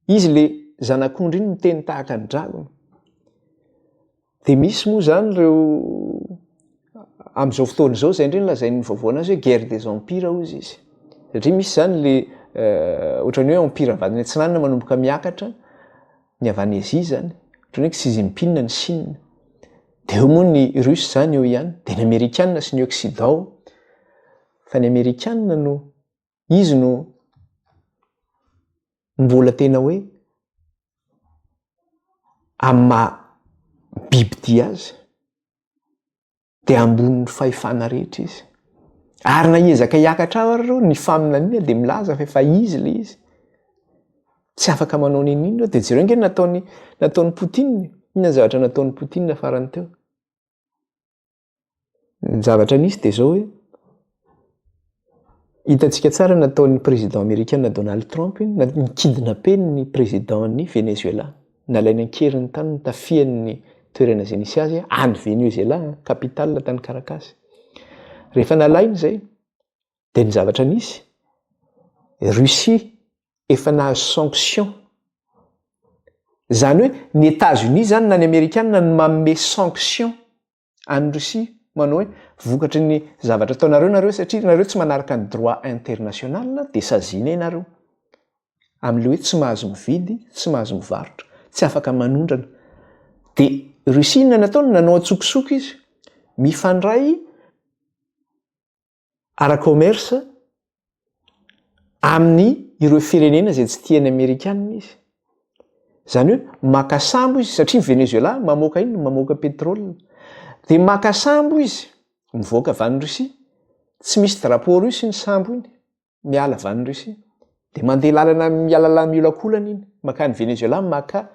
Izy le zanak'ondry iny miteny tahaka ny dragona. Dia misy moa zany ireo amin'izao fotoana izao izay indray no lazain'ny vaovao anazy hoe guerre des empires hozy izy. Satria misy zany le ohatran'ny hoe empire avadiny atsinanana manomboka miakatra. ny avy any Asie zany, ohatran'ny hoe Xi Jinping ny Chine, dia eo moa ny Russe zany eo ihany, dia ny Amerikana sy ny Occident, fa ny Amerikana no izy no mbola tena hoe amin'ny maha bibidia azy. dia ambonin'ny fahefana rehetra izy. Ary na hiezaka hiakatra aho ary ny faminaniana dia milaza fa efa izy ilay izy. Tsy afaka manao ny inona dia jereo nge nataony nataony Poutine. Inona ny zavatra nataony Poutine farany teo? Ny zavatra nisy dia zao hoe Hitantsika tsara ny nataon'ny Prezida Amerikana Donald Trump na ny kidnapen'ny Prezidan'ny Venezuela. Nalainy an-keriny tany ny tafian'ny toerana izay nisy azy any Venezuela, capitale tany Caracas. Rehefa nalainy izay, dia ny zavatra nisy, Russie efa nahazo sanction. Izany hoe ny Etazonia izany na ny Amerikana no manome sanction any Russie manao hoe vokatry ny zavatra ataonareo nareo satria nareo tsy manaraka ny droit international de saziana ianareo amin'le hoe tsy mahazo mividy tsy mahazo mivarotra tsy afaka manondrana de Russie inona nataony nanao antsokosoko izy mifandray ara-commerce amin'ny ireo firenena izay tsy tian'ny amerikana izy. Izany hoe maka sambo izy satria ny Venezuela mamoaka inona? Mamoaka pétrole. Dia maka sambo izy mivoaka avy any Russie, tsy misy drapeau russe iny sambo iny. miala avy any Russie dia mandeha lalana mialalà miolakolana iny makany Venezuela maka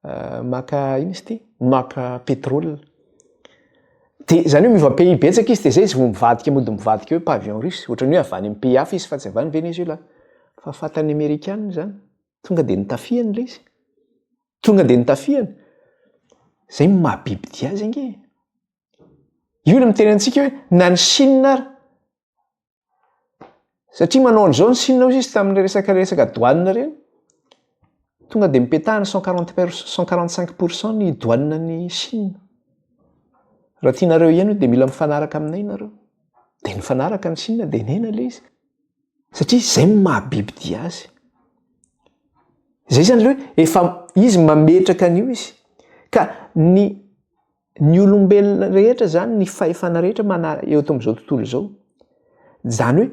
euh, maka ina izy ity maka pétrole dia izany hoe miova pays betsaka izy dia zay izy vao mivadika mody mivadika hoe pavillon russe ohatran'ny hoe avy any amin'ny pays hafa izy fa tsy avy any Venezuela fa fatan'ny Amerikana izany tonga dia nitafihany ilay izy tonga dia nitafihany zay mahabiby dia azy ange io ny miteny antsika hoe na ny Chine ary Satria manao an'izao ny Sina hozy izy tamin'ireny resaka resaka douane ireny, tonga dia mipetahana cent quarante per- cent quarante cinq pour cent ny douane an'i Sina. Raha tianareo hiheno dia mila mifanaraka aminay nareo. Dia nifanaraka ny Sina dia nihena ilay izy satria izay no maha-bibi-dia azy. Izay izany le hoe efa izy mametraka an'io izy ka ny Ny olombelona rehetra izany, ny fahefana rehetra mana- eo amin'izao tontolo izao, izany hoe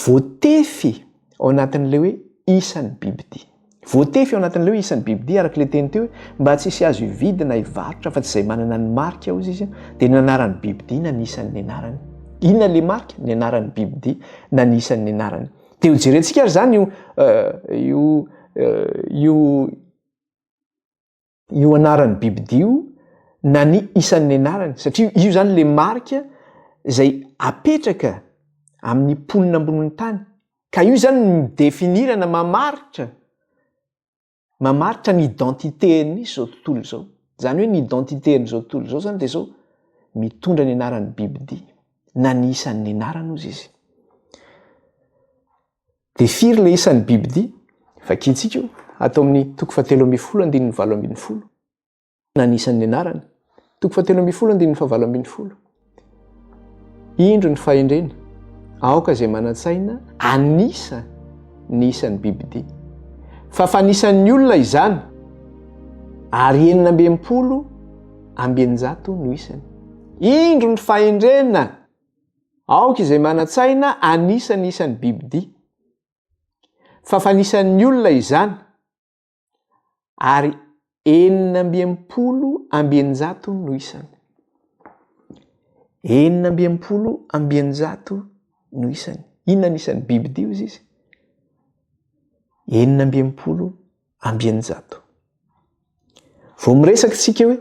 voatefy ao anatin'ilay hoe isan'ny bibidia. Voatefy ao anatin'ilay hoe isan'ny bibidia, araka ilay teny teo hoe mba tsy hisy azo hividy na hivarotra afa-tsy izay manana ny marika, hoy izy, dia ny anaran'ny bibidia na ny isan'ny anarany. Inona ilay marika? Ny anaran'ny bibidia na ny isan'ny anarany. Dia hojerentsika ary izany io, io, io, io anaran'ny bibidia io na ny isan'ny anarany satria io zany le marika zay apetraka amin'ny mponina ambonin'ny tany ka io zany ny mi-definir na mamaritra mamaritra ny identité-n'ny zao tontolo izao zany hoe ny identité-n'ny zao tontolo izao zany de zao mitondra ny anaran'ny bibidia na ny isan'ny anarany ozy izy Dia firy ilay isan'ny bibidia? Vakintsika io ato amin'ny toko fahatelo ambin'ny folo andininy valo ambin'ny folo na ny isan'ny anarany. Toko fahatelo ambin'ny folo andininy fahavalo ambin'ny folo. Indro ny fahendrena. Aoka izay manan-tsaina anisa ny isan'ny bibidia. Fa fanisan'ny olona izany ary enina ambin'ny polo ambienjato no isany. Indro ny fahendrena Aoka izay manan-tsaina hanisa ny isan'ny bibidia, fa fanisan'ny olona izany, ary enina amby enimpolo amby eninjato no isany. Enina amby enimpolo amby eninjato no isany. Inona ny isan'ny bibidia hoy izy? Enina amby enimpolo amby eninjato. Vao miresaka isika hoe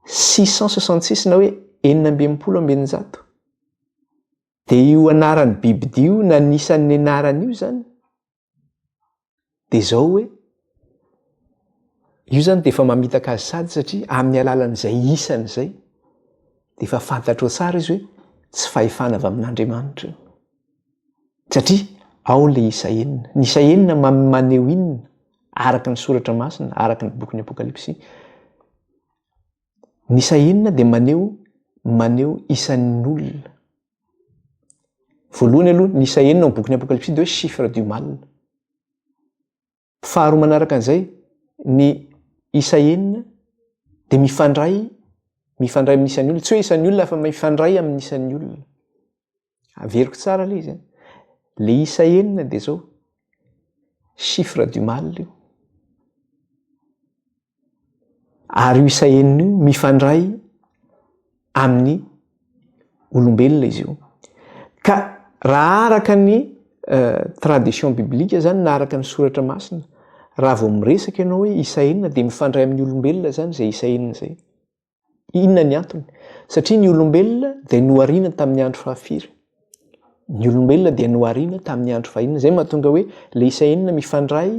six cent soixante six na hoe enina amby enimpolo amby eninjato dia io anaran'ny bibidia io na ny isan'ny anarany io zany dia zao hoe io zany dia efa mamitaka azy sady satria amin'ny alalan'izay isany izay dia efa fantatro tsara izy hoe tsy fahefana avy amin'andriamanitra io Satria ao le isa enina. Ny isa enina maneho inona? Araka ny soratra masina, araka ny bokin'ny Apokalypsy, ny isa enina dia maneho maneho isan'ny olona. Voalohany aloha ny isa enina ao bokin'ny Apokalypsy dia hoe chiffre du mal. Faharoa manaraka an'izay, ny isa enina dia mifandray, mifandray amin'ny isan'ny olona, tsy hoe isan'ny olona fa mifandray amin'ny isan'ny olona. Averiko tsara ilay izy. Le isa enina dia zao, chiffre du mal io. Ary io isa enina io mifandray amin'ny olombelona izy io. Ka raha araka ny eh, tradition biblique zany na araka ny soratra masina, raha vao miresaka ianao hoe isa enina dia mifandray amin'ny olombelona zany izay isa enina izay. Inona ny antony? Satria ny olombelona dia nohariana tamin'ny andro fahafiry? Ny olombelona dia nohariana tamin'ny andro fahina. Izay mahatonga hoe ilay isa enina mifandray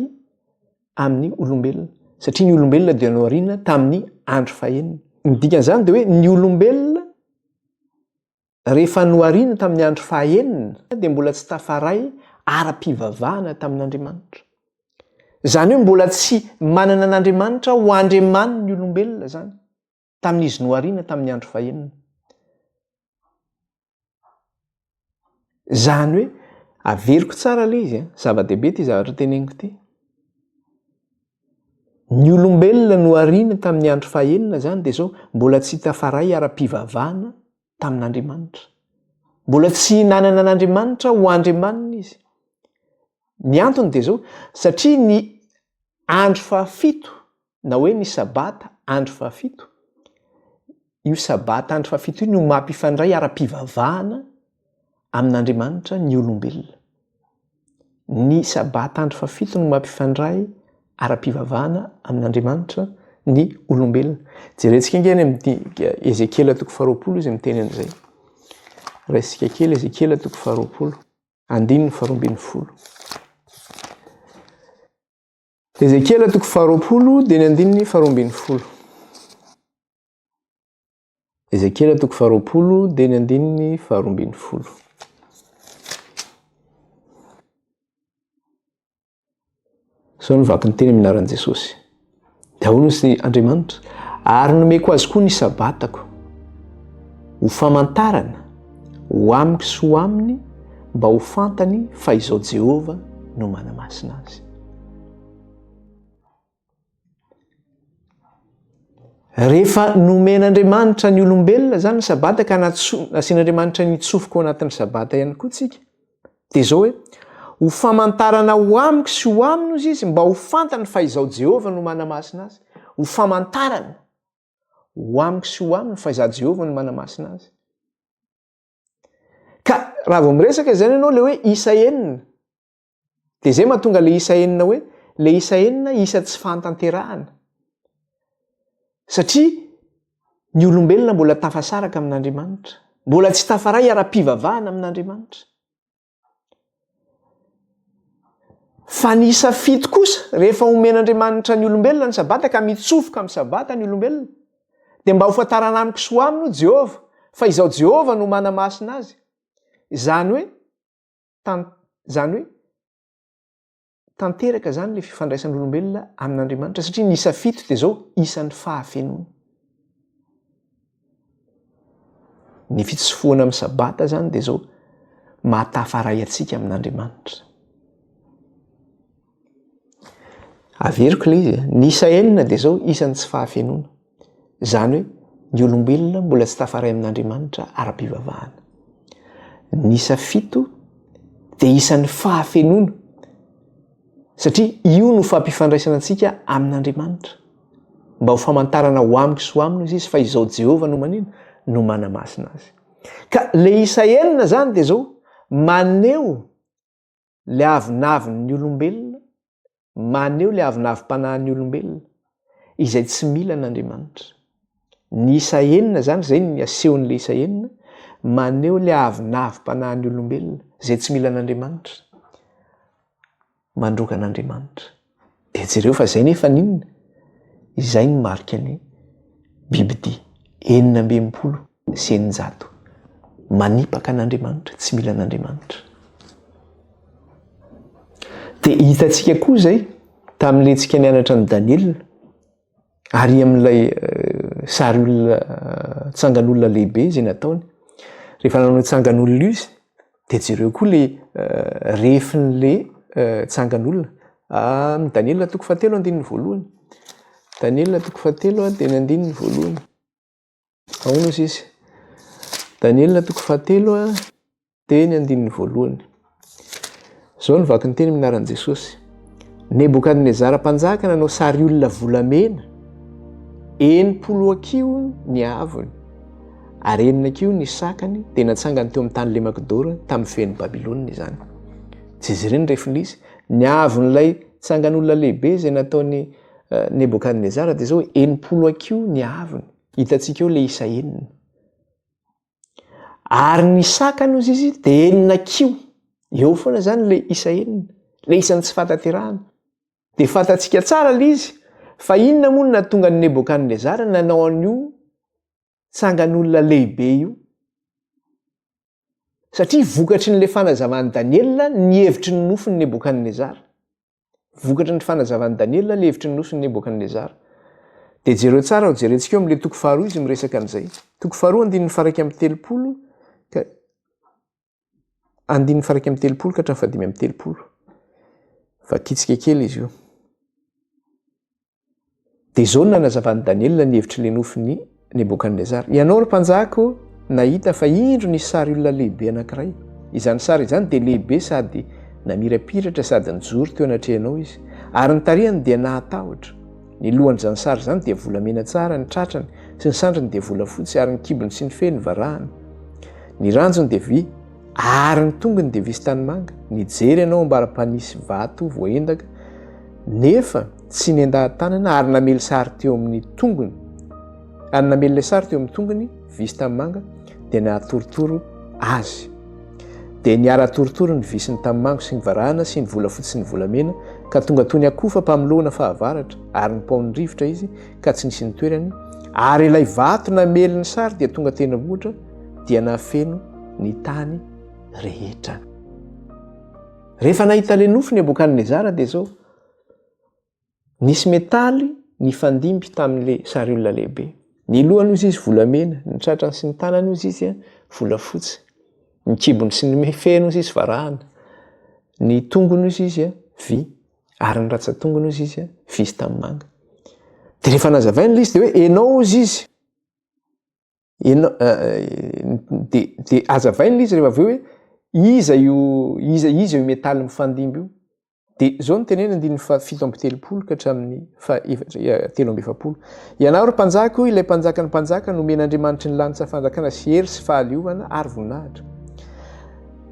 amin'ny olombelona. Satria ny olombelona dia nohariana tamin'ny andro fahenina. Ny dikan'izany dia hoe ny olombelona Rehefa nohariany tamin'ny andro fahaenina dia mbola tsy tafaray ara-pivavahana tamin'Andriamanitra. Izany hoe mbola tsy manana an'Andriamanitra ho Andriamani ny olombelona izany, tamin'izy nohariana tamin'ny andro fahenina. Izany hoe, averiko tsara ilay izy, eh? zava-dehibe ity zavatra teneniko ity. Ny olombelona nohariny tamin'ny andro fahenina izany dia izao, mbola tsy tafaray ara-pivavahana tamin'Andriamanitra. Mbola tsy nanana an'Andriamanitra ho Andriamaniny izy. Ny antony dia izao, satria ny andro fahafito na hoe ny sabata andro fahafito Io Sabata andro fahafito io no mampifandray ara-pivavahana amin'Andriamanitra ny olombelona. Ny Sabata andro fahafito no mampifandray ara-pivavahana amin'Andriamanitra ny olombelona. Jerentsika ange any amin'ny Ezekiela toko faharoapolo izy miteny an'izay. Raisika kely Ezekiela toko faharoapolo, andininy faharoambin'ny folo. Ezekiela toko faharoapolo dia ny andininy faharoa ambin'ny folo. Ezekiela toko faharoapolo dia ny andininy faharoa ambin'ny folo. Sao ny vaky ny teny amin'ny anaran'i Jesosy. Dia ahoana sy Andriamanitra? Ary nomeko azy koa ny sabatako ho famantarana ho amiko sy ho aminy mba ho fantany fa izao Jehovah no manamasina azy. Rehefa nomen'Andriamanitra ny olombelona izany ny sabata ka nasian'Andriamanitra ny tsofoka ao anatin'ny sabata ihany koa tsika, dia izao hoe, ho famantarana ho amiko sy ho aminy ozy izy mba ho fantany fa izao Jehovah no manamasina azy, ho famantarana. Ho amiko sy ho aminy fa izaho Jehovah no manamasina azy. Ka raha vao miresaka izany ianao le hoe isa enina, dia izay mahatonga le isa enina hoe le isa enina isa tsy fahantanterahana. Satria ny olombelona mbola tafasaraka amin'Andriamanitra, mbola tsy tafaray ara-pivavahana amin'Andriamanitra. Fa ny isa fito kosa, rehefa omen'Andriamanitra ny olombelona ny Sabata ka mitsofoka amin'ny Sabata ny olombelona, dia mba hofantarana amiko sy ho aminy, hoy Jehovah, fa izaho Jehovah no manamasina azy. Izany hoe, tan, izany hoe, tanteraka izany ilay fifandraisan'olombelona amin'Andriamanitra satria ny isa fito dia izao isan'ny fahafenoana. Ny fitsofohana amin'ny sabata izany dia izao mahatafaray antsika amin'Andriamanitra. Averiko ilay izy, ny isa enina dia izao isan'ny tsy fahafenoana. Izany hoe ny olombelona mbola tsy tafaray amin'Andriamanitra ara-pivavahana. Ny isa fito dia isan'ny fahafenoana satria io no fampifandraisana antsika amin'Andriamanitra. Mba ho famantarana ho amiko sy ho aminy hoy izy fa izao Jehovah no manino? No manamasina azy. Ka ilay isa enina izany dia izao, maneho Ilay avonavon' ny olombelona, maneho ilay avonavim-panahin' ny olombelona, izay tsy mila an' Andriamanitra. Ny isa enina izany, izay ny asehon' ilay isa enina, maneho ilay avonavim-panahin' ny olombelona, izay tsy mila an' Andriamanitra, mandroaka an' Andriamanitra. Dia jereo fa izay nefa n'inona? Izay ny marika ny bibidia enina amby enimpolo sy eninjato. Manipaka an'Andriamanitra, tsy mila an'Andriamanitra. Dia hitantsika koa izay tamin'ilay tsika nianatra an'i Daniela. Ary amin'ilay sary olona tsangan'olona lehibe izay nataony, rehefa nanao ny tsangan'olona izy dia jereo koa le rehefin'le tsangan'olona. Amin'ny Daniela toko fahatelo andininy voalohany. Daniela toko fahatelo dia ny andininy voalohany. Ahoana hoy izy? Daniela toko fahatelo a, dia ny andininy voalohany. Izao no vaky ny teny minaran'i Jesosy. Nebokadnezara mpanjaka nanao sary olona volamena, enimpolo akiho ny haavony, ary enina akiho ny sakany, dia natsangany teo amin'ny tany lemakidoro tamin'ny fen'i Babylona izany. Tsy izy ireny refin'izy, ny haavon'ilay tsangan'olona lehibe izay nataony Nebokadnezara dia zao hoe enimpolo hakiho ny haavony. Hitantsika eo le isa enina. Ary ny sakany ozy izy dia enina kiho. Eo foana zany le isa enina. Le isan'ny tsy fataterahana. Dia fantatsika tsara le izy fa inona moa no natonga ny Nebokadnezara nanao an'io tsangan'olona lehibe io. Satria vokatry ny le fanazavan'i Daniela ny hevitry ny nofin'i Nebokadnezara. Vokatry ny fanazavan'i Daniela ilay hevitry ny nosin'i Nebokadnezara. Dia jereo tsara aho, jerentsika eo amin'ilay toko faharoa izy miresaka an'izay. Toko faharoa andininy faraika amin'ny telopolo ka andininy faraika amin'ny telopolo ka hatramin'ny fahadimy amin'ny telopolo. Vakitsika kely izy io. Dia izao no nanazavan'i Daniela ny hevitr'ilay nofin'i Nebokadnezara. Ianao ry mpanjako nahita fa indro nisy sary olona lehibe anankiray. Izany sary izany dia lehibe sady namirapiratra sady nijoro teo anatrehanao izy. Ary ny tarehiny dia nahatahotra. Ny lohan'izany sary izany dia volamena tsara, ny tratrany sy ny sandriny dia volafotsy, ary ny kibony sy ny feny varahina. Ny ranjony dia vy, ary ny tongony dia vy sy tanimanga. Nijery ianao ambara-panisy vato voaendaka, nefa Tsy nendahan-tanana ary namely sary teo amin'ny tongony, ary namely ilay sary teo amin'ny tongony visy tanimanga dia nahatorotoro azy. Dia niara-torotoro ny visy ny tanimanga sy ny varahana sy ny volafotsy sy ny volamena ka tonga toy ny akoho fampamolohana fahavaratra ary nipaon'ny rivotra izy ka tsy nisy nitoerany, ary ilay vato namely ny sary dia tonga tenivohitra dia nahafeno ny tany rehetra. Rehefa nahita ilay nofo Nebokadnezara dia izao Nisy metaly nifandimby tamin'ilay sary olona lehibe. Ny lohany hozy izy volamena, ny tratrany sy ny tanany hozy izy volafotsy. Ny kibony sy ny feny hozy izy varahana. Ny tongony hozy izy vy ary ny ratsan-tongony hozy izy vy sy tanimanga. Dia rehefa nazavaina ilay izy dia hoe ianao hozy izy. Ianao dia dia hazavaina ilay izy rehefa avy eo hoe iza io iza iza io metaly mifandimby io. Dia izao no teneniny andininy fa fito amby telopolo ka hatramin'ny fa telo amby efapolo. Ianao ry mpanjaka, hoy ilay mpanjaka ny mpanjaka, nomen'Andriamanitry ny lanitra fanjakana sy hery sy fahaleovana ary voninahitra.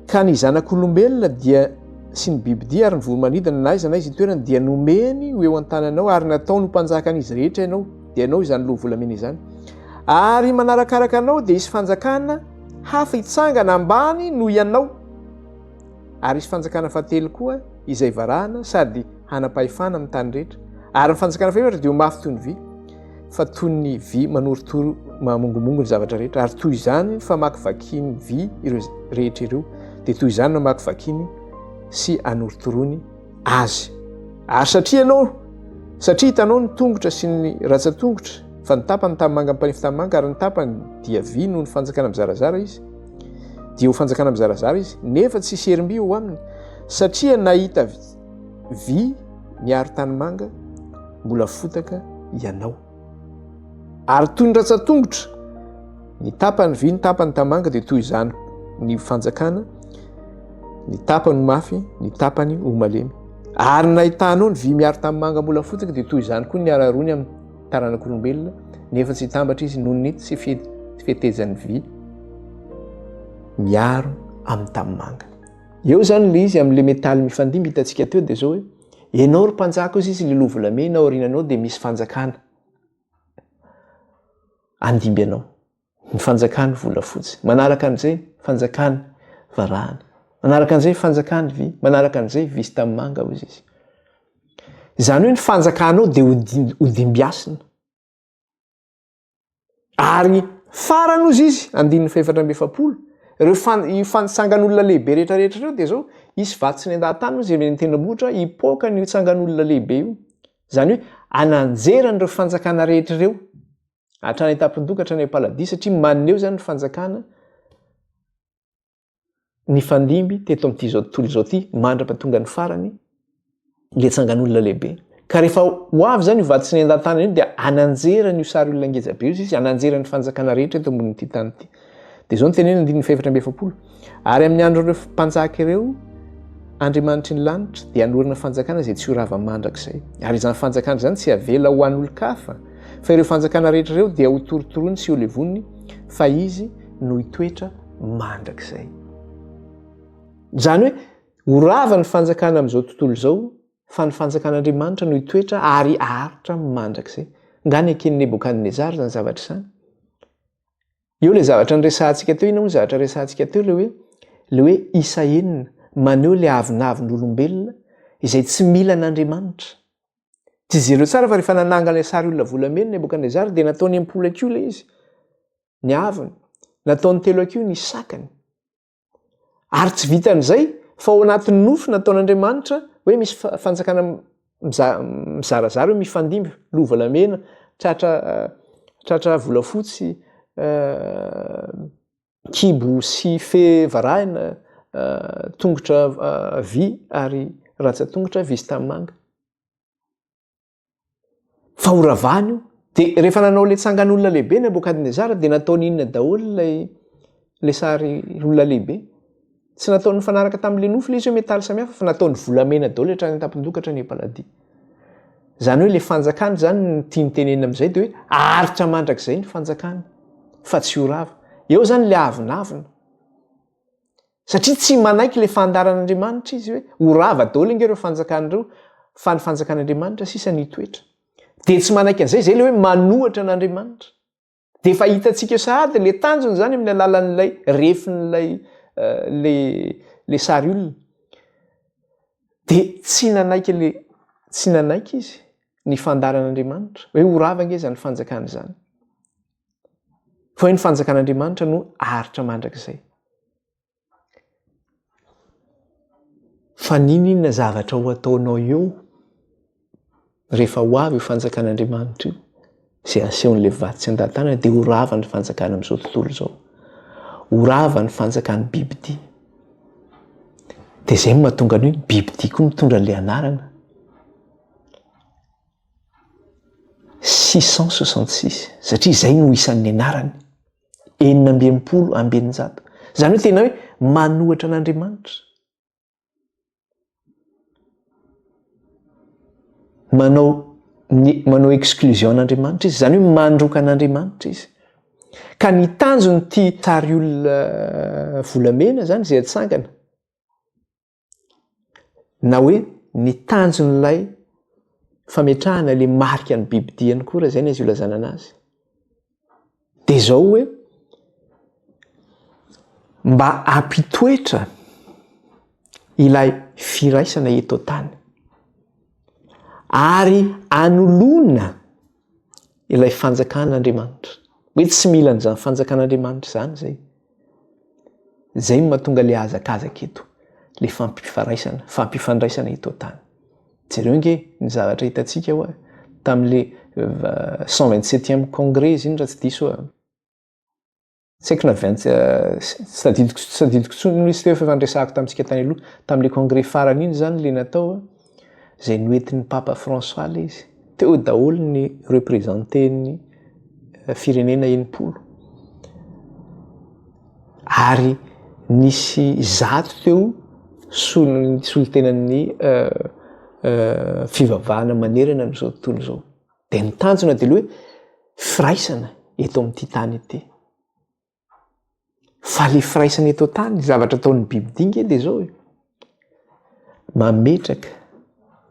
Ka ny zanak'olombelona dia sy ny bibidia ary ny voromanidina na aiza na aiza itoerany dia nomeny ho eo an-tananao ary nataony ho mpanjakan'izy rehetra ianao dia ianao izany loha volamena izany ary manarakaraka anao dia hisy fanjakana hafa hitsangana ambany noho ianao Ary hisy fanjakana fahatelo koa izay varahana sady hanam-pahefana amin'ny tany rehetra. Ary ny fanjakana fahefatra dia ho mafy toy ny vy, fa toy ny vy manorotoro mahamongomongo ny zavatra rehetra. Ary toy izany ny famakivakiany vy ireo rehetra ireo, dia toy izany no hamakivakiany sy anorotoroany azy. Ary satria ianao, satria hitanao ny tongotra sy ny ratsatongotra, fa ny tapany tanimanga mipanefy tanimanga ary ny tapany dia vy noho ny fanjakana mizarazara izy, dia ho fanjakana mizarazara izy, nefa tsy hisy herim-by ho aminy, satria nahita vy miaro tanimanga mbola fotaka ianao. Ary toy ny ratsan-tongotra, ny tapany vy, ny tapany tamanga dia toy izany ny fanjakana, ny tapany mafy, ny tapany ho malemy. Ary nahitanao ny vy miaro tamin'ny manga mbola fotsiny dia toy izany koa ny araroany amin'ny taranak'olombelona, nefa tsy hitambatra izy noho ny tsy fetezan'ny vy miaro amin'ny tamin'ny manga. Eo izany ilay izy amin'ilay metaly mifandimby hitantsika teo dia izao hoe. Enao ry mpanjaka ozy izy lilo volamena aorinanao dia misy fanjakana andimby anao ny fanjakany volafotsy manaraka an'izay fanjakany varahana manaraka an'izay fanjakany vy manaraka an'izay visy tamin'ny manga ozy izy izany hoe ny fanjakanao dia hodimbiasina Ary farany ozy izy, andininy fahefatra amby efapolo, ireo fan, io fantsangan'olona lehibe rehetrarehetra ireo dia izao, hisy vato tsy nendahan-tany ozy eny an-tendrombohitra hipoaka an'io tsangan'olona lehibe io. Izany hoe ananjerany ireo fanjakana rehetra ireo, hatrany an-tampon-doha ka hatrany am-paladia, satria maneho izany ny fanjakana nifandimby teto amin'ity izao tontolo izao ity mandrapa tonga ny farany le tsangan'olona lehibe ka rehefa ho avy zany io vaditsy ny endatana io dia ananjerany io sary olona ngeja be io izy ananjeran'ny fanjakana rehetra eto ambonin'ity tany ity dia izao ny tenena andininy fahefatra amby efapolo ary amin'ny andro ireo mpanjaka ireo andriamanitry ny lanitra dia anorana fanjakana izay tsy ho rava mandrakizay ary izany fanjakana izany tsy avela ho an'olon-kafa fa ireo fanjakana rehetra ireo dia ho torotorony sy ho levoniny fa izy no hitoetra mandrakizay. Izany hoe ho rava ny fanjakana amin'izao tontolo izao fa ny fanjakan'Andriamanitra no hitoetra ary haharitra mandrakizay. Nga neken'i Nebokadnezara izany zavatra izany? Eo ilay zavatra niresahantsika teo, inona moa zavatra resahantsika teo ilay hoe ilay hoe isa enina maneho ilay avonavon'olombelona izay tsy mila an'Andriamanitra. Tsy jereo tsara fa rehefa nanangana ilay sary olona volamena Nebokadnezara dia nataony am-polakio ilay izy. ny avony, nataony telo hakiho ny sakany. Ary tsy vitan'izay, fa ao anatin'ny nofy nataon'Andriamanitra hoe misy fanjakana mizarazara hoe mifandimby, loha volamena, tratra, tratra volafotsy, kibo sy fe varahina, tongotra vy ary rantsa-tongotra vy sy tanimanga. fa ho ravany io de rehefa nanao le tsangan'olona lehibe nabokadnezara de nataony inona daholo lay le sary olona lehibe tsy nataony fanaraka tamin'le nofo le izy hoe metaly samihafa fa nataony volamena daholo le trany tampindokatra ny paladi zany hoe le fanjakany zany ny tiany tenena am'izay de hoe aharitra mandrakizay ny fanjakany fa tsy ho rava eo zany le avinavina Satria tsy manaiky ilay fandaharan'Andriamanitra izy hoe ho rava daholo ange ireo fanjakana ireo fa ny fanjakan'Andriamanitra sisa no hitoetra. Dia tsy manaiky an'izay izay ilay hoe manohitra an'Andriamanitra. Dia efa hitantsika eo sahady ilay tanjony izany amin'ny alalan'ilay refin'ilay ilay ilay sary olona. Dia tsy nanaiky ilay tsy nanaiky izy ny fandaharan'Andriamanitra hoe ho rava ange izany fanjakana izany. Fa hoe ny fanjakan'Andriamanitra no aritra mandrakizay. Fa n'inon'inona zavatra ho ataonao eo rehefa ho avy io fanjakan'Andriamanitra io izay asehon'ilay vato tsy an-tantana dia ho rava ny fanjakana amin'izao tontolo izao. Ho rava ny fanjakan'ny bibidia. Dia izay no mahatonga ny hoe bibidia koa mitondra ilay anarana. six cent soixante six satria izay no isan'ny anarany, enina amby enimpolo amby eninjato, izany hoe tena hoe manohatra an'Andriamanitra, manao ny manao exclusion an'Andriamanitra izy, izany hoe mandroka an'Andriamanitra izy, ka ny tanjon'ity tariolona volamena izany izay atsangana, na hoe ny tanjon'ilay fametrahana ilay marika ny bibidia ny kora izay ny azy olazana ana azy dia izao hoe mba ampitoetra ilay firaisana eto tany ary anoloana ilay fanjakan'Andriamanitra. Hoe tsy mila an'izany fanjakan'Andriamanitra izany izay. Izay no mahatonga ilay hazakazaka eto, ilay fampifaraisana, fampifandraisana eto an-tany. Jereo nge ny zavatra hitantsika hoa tamin'ilay cent vingt septième congrès izy iny raha tsy diso aho. Tsy haiko na avy any, tsy tadidiko tsy tadidiko intsony ny liste fa efa niresahako tamintsika tany aloha, tamin'ilay congrès farany iny izany ilay natao a, izay noentin'ny Papa François ilay izy. Teo daholo ny représentés-n'ny firenena enimpolo. Ary nisy zato teo solon-tenan'ny fivavahana manerana an'izao tontolo izao. Dia ny tanjona dia hoe firaisana eto amin'ity tany ity. Fa le firaisana eto tany, ny zavatra ataon'ny biby dinga dia zao e. Mametraka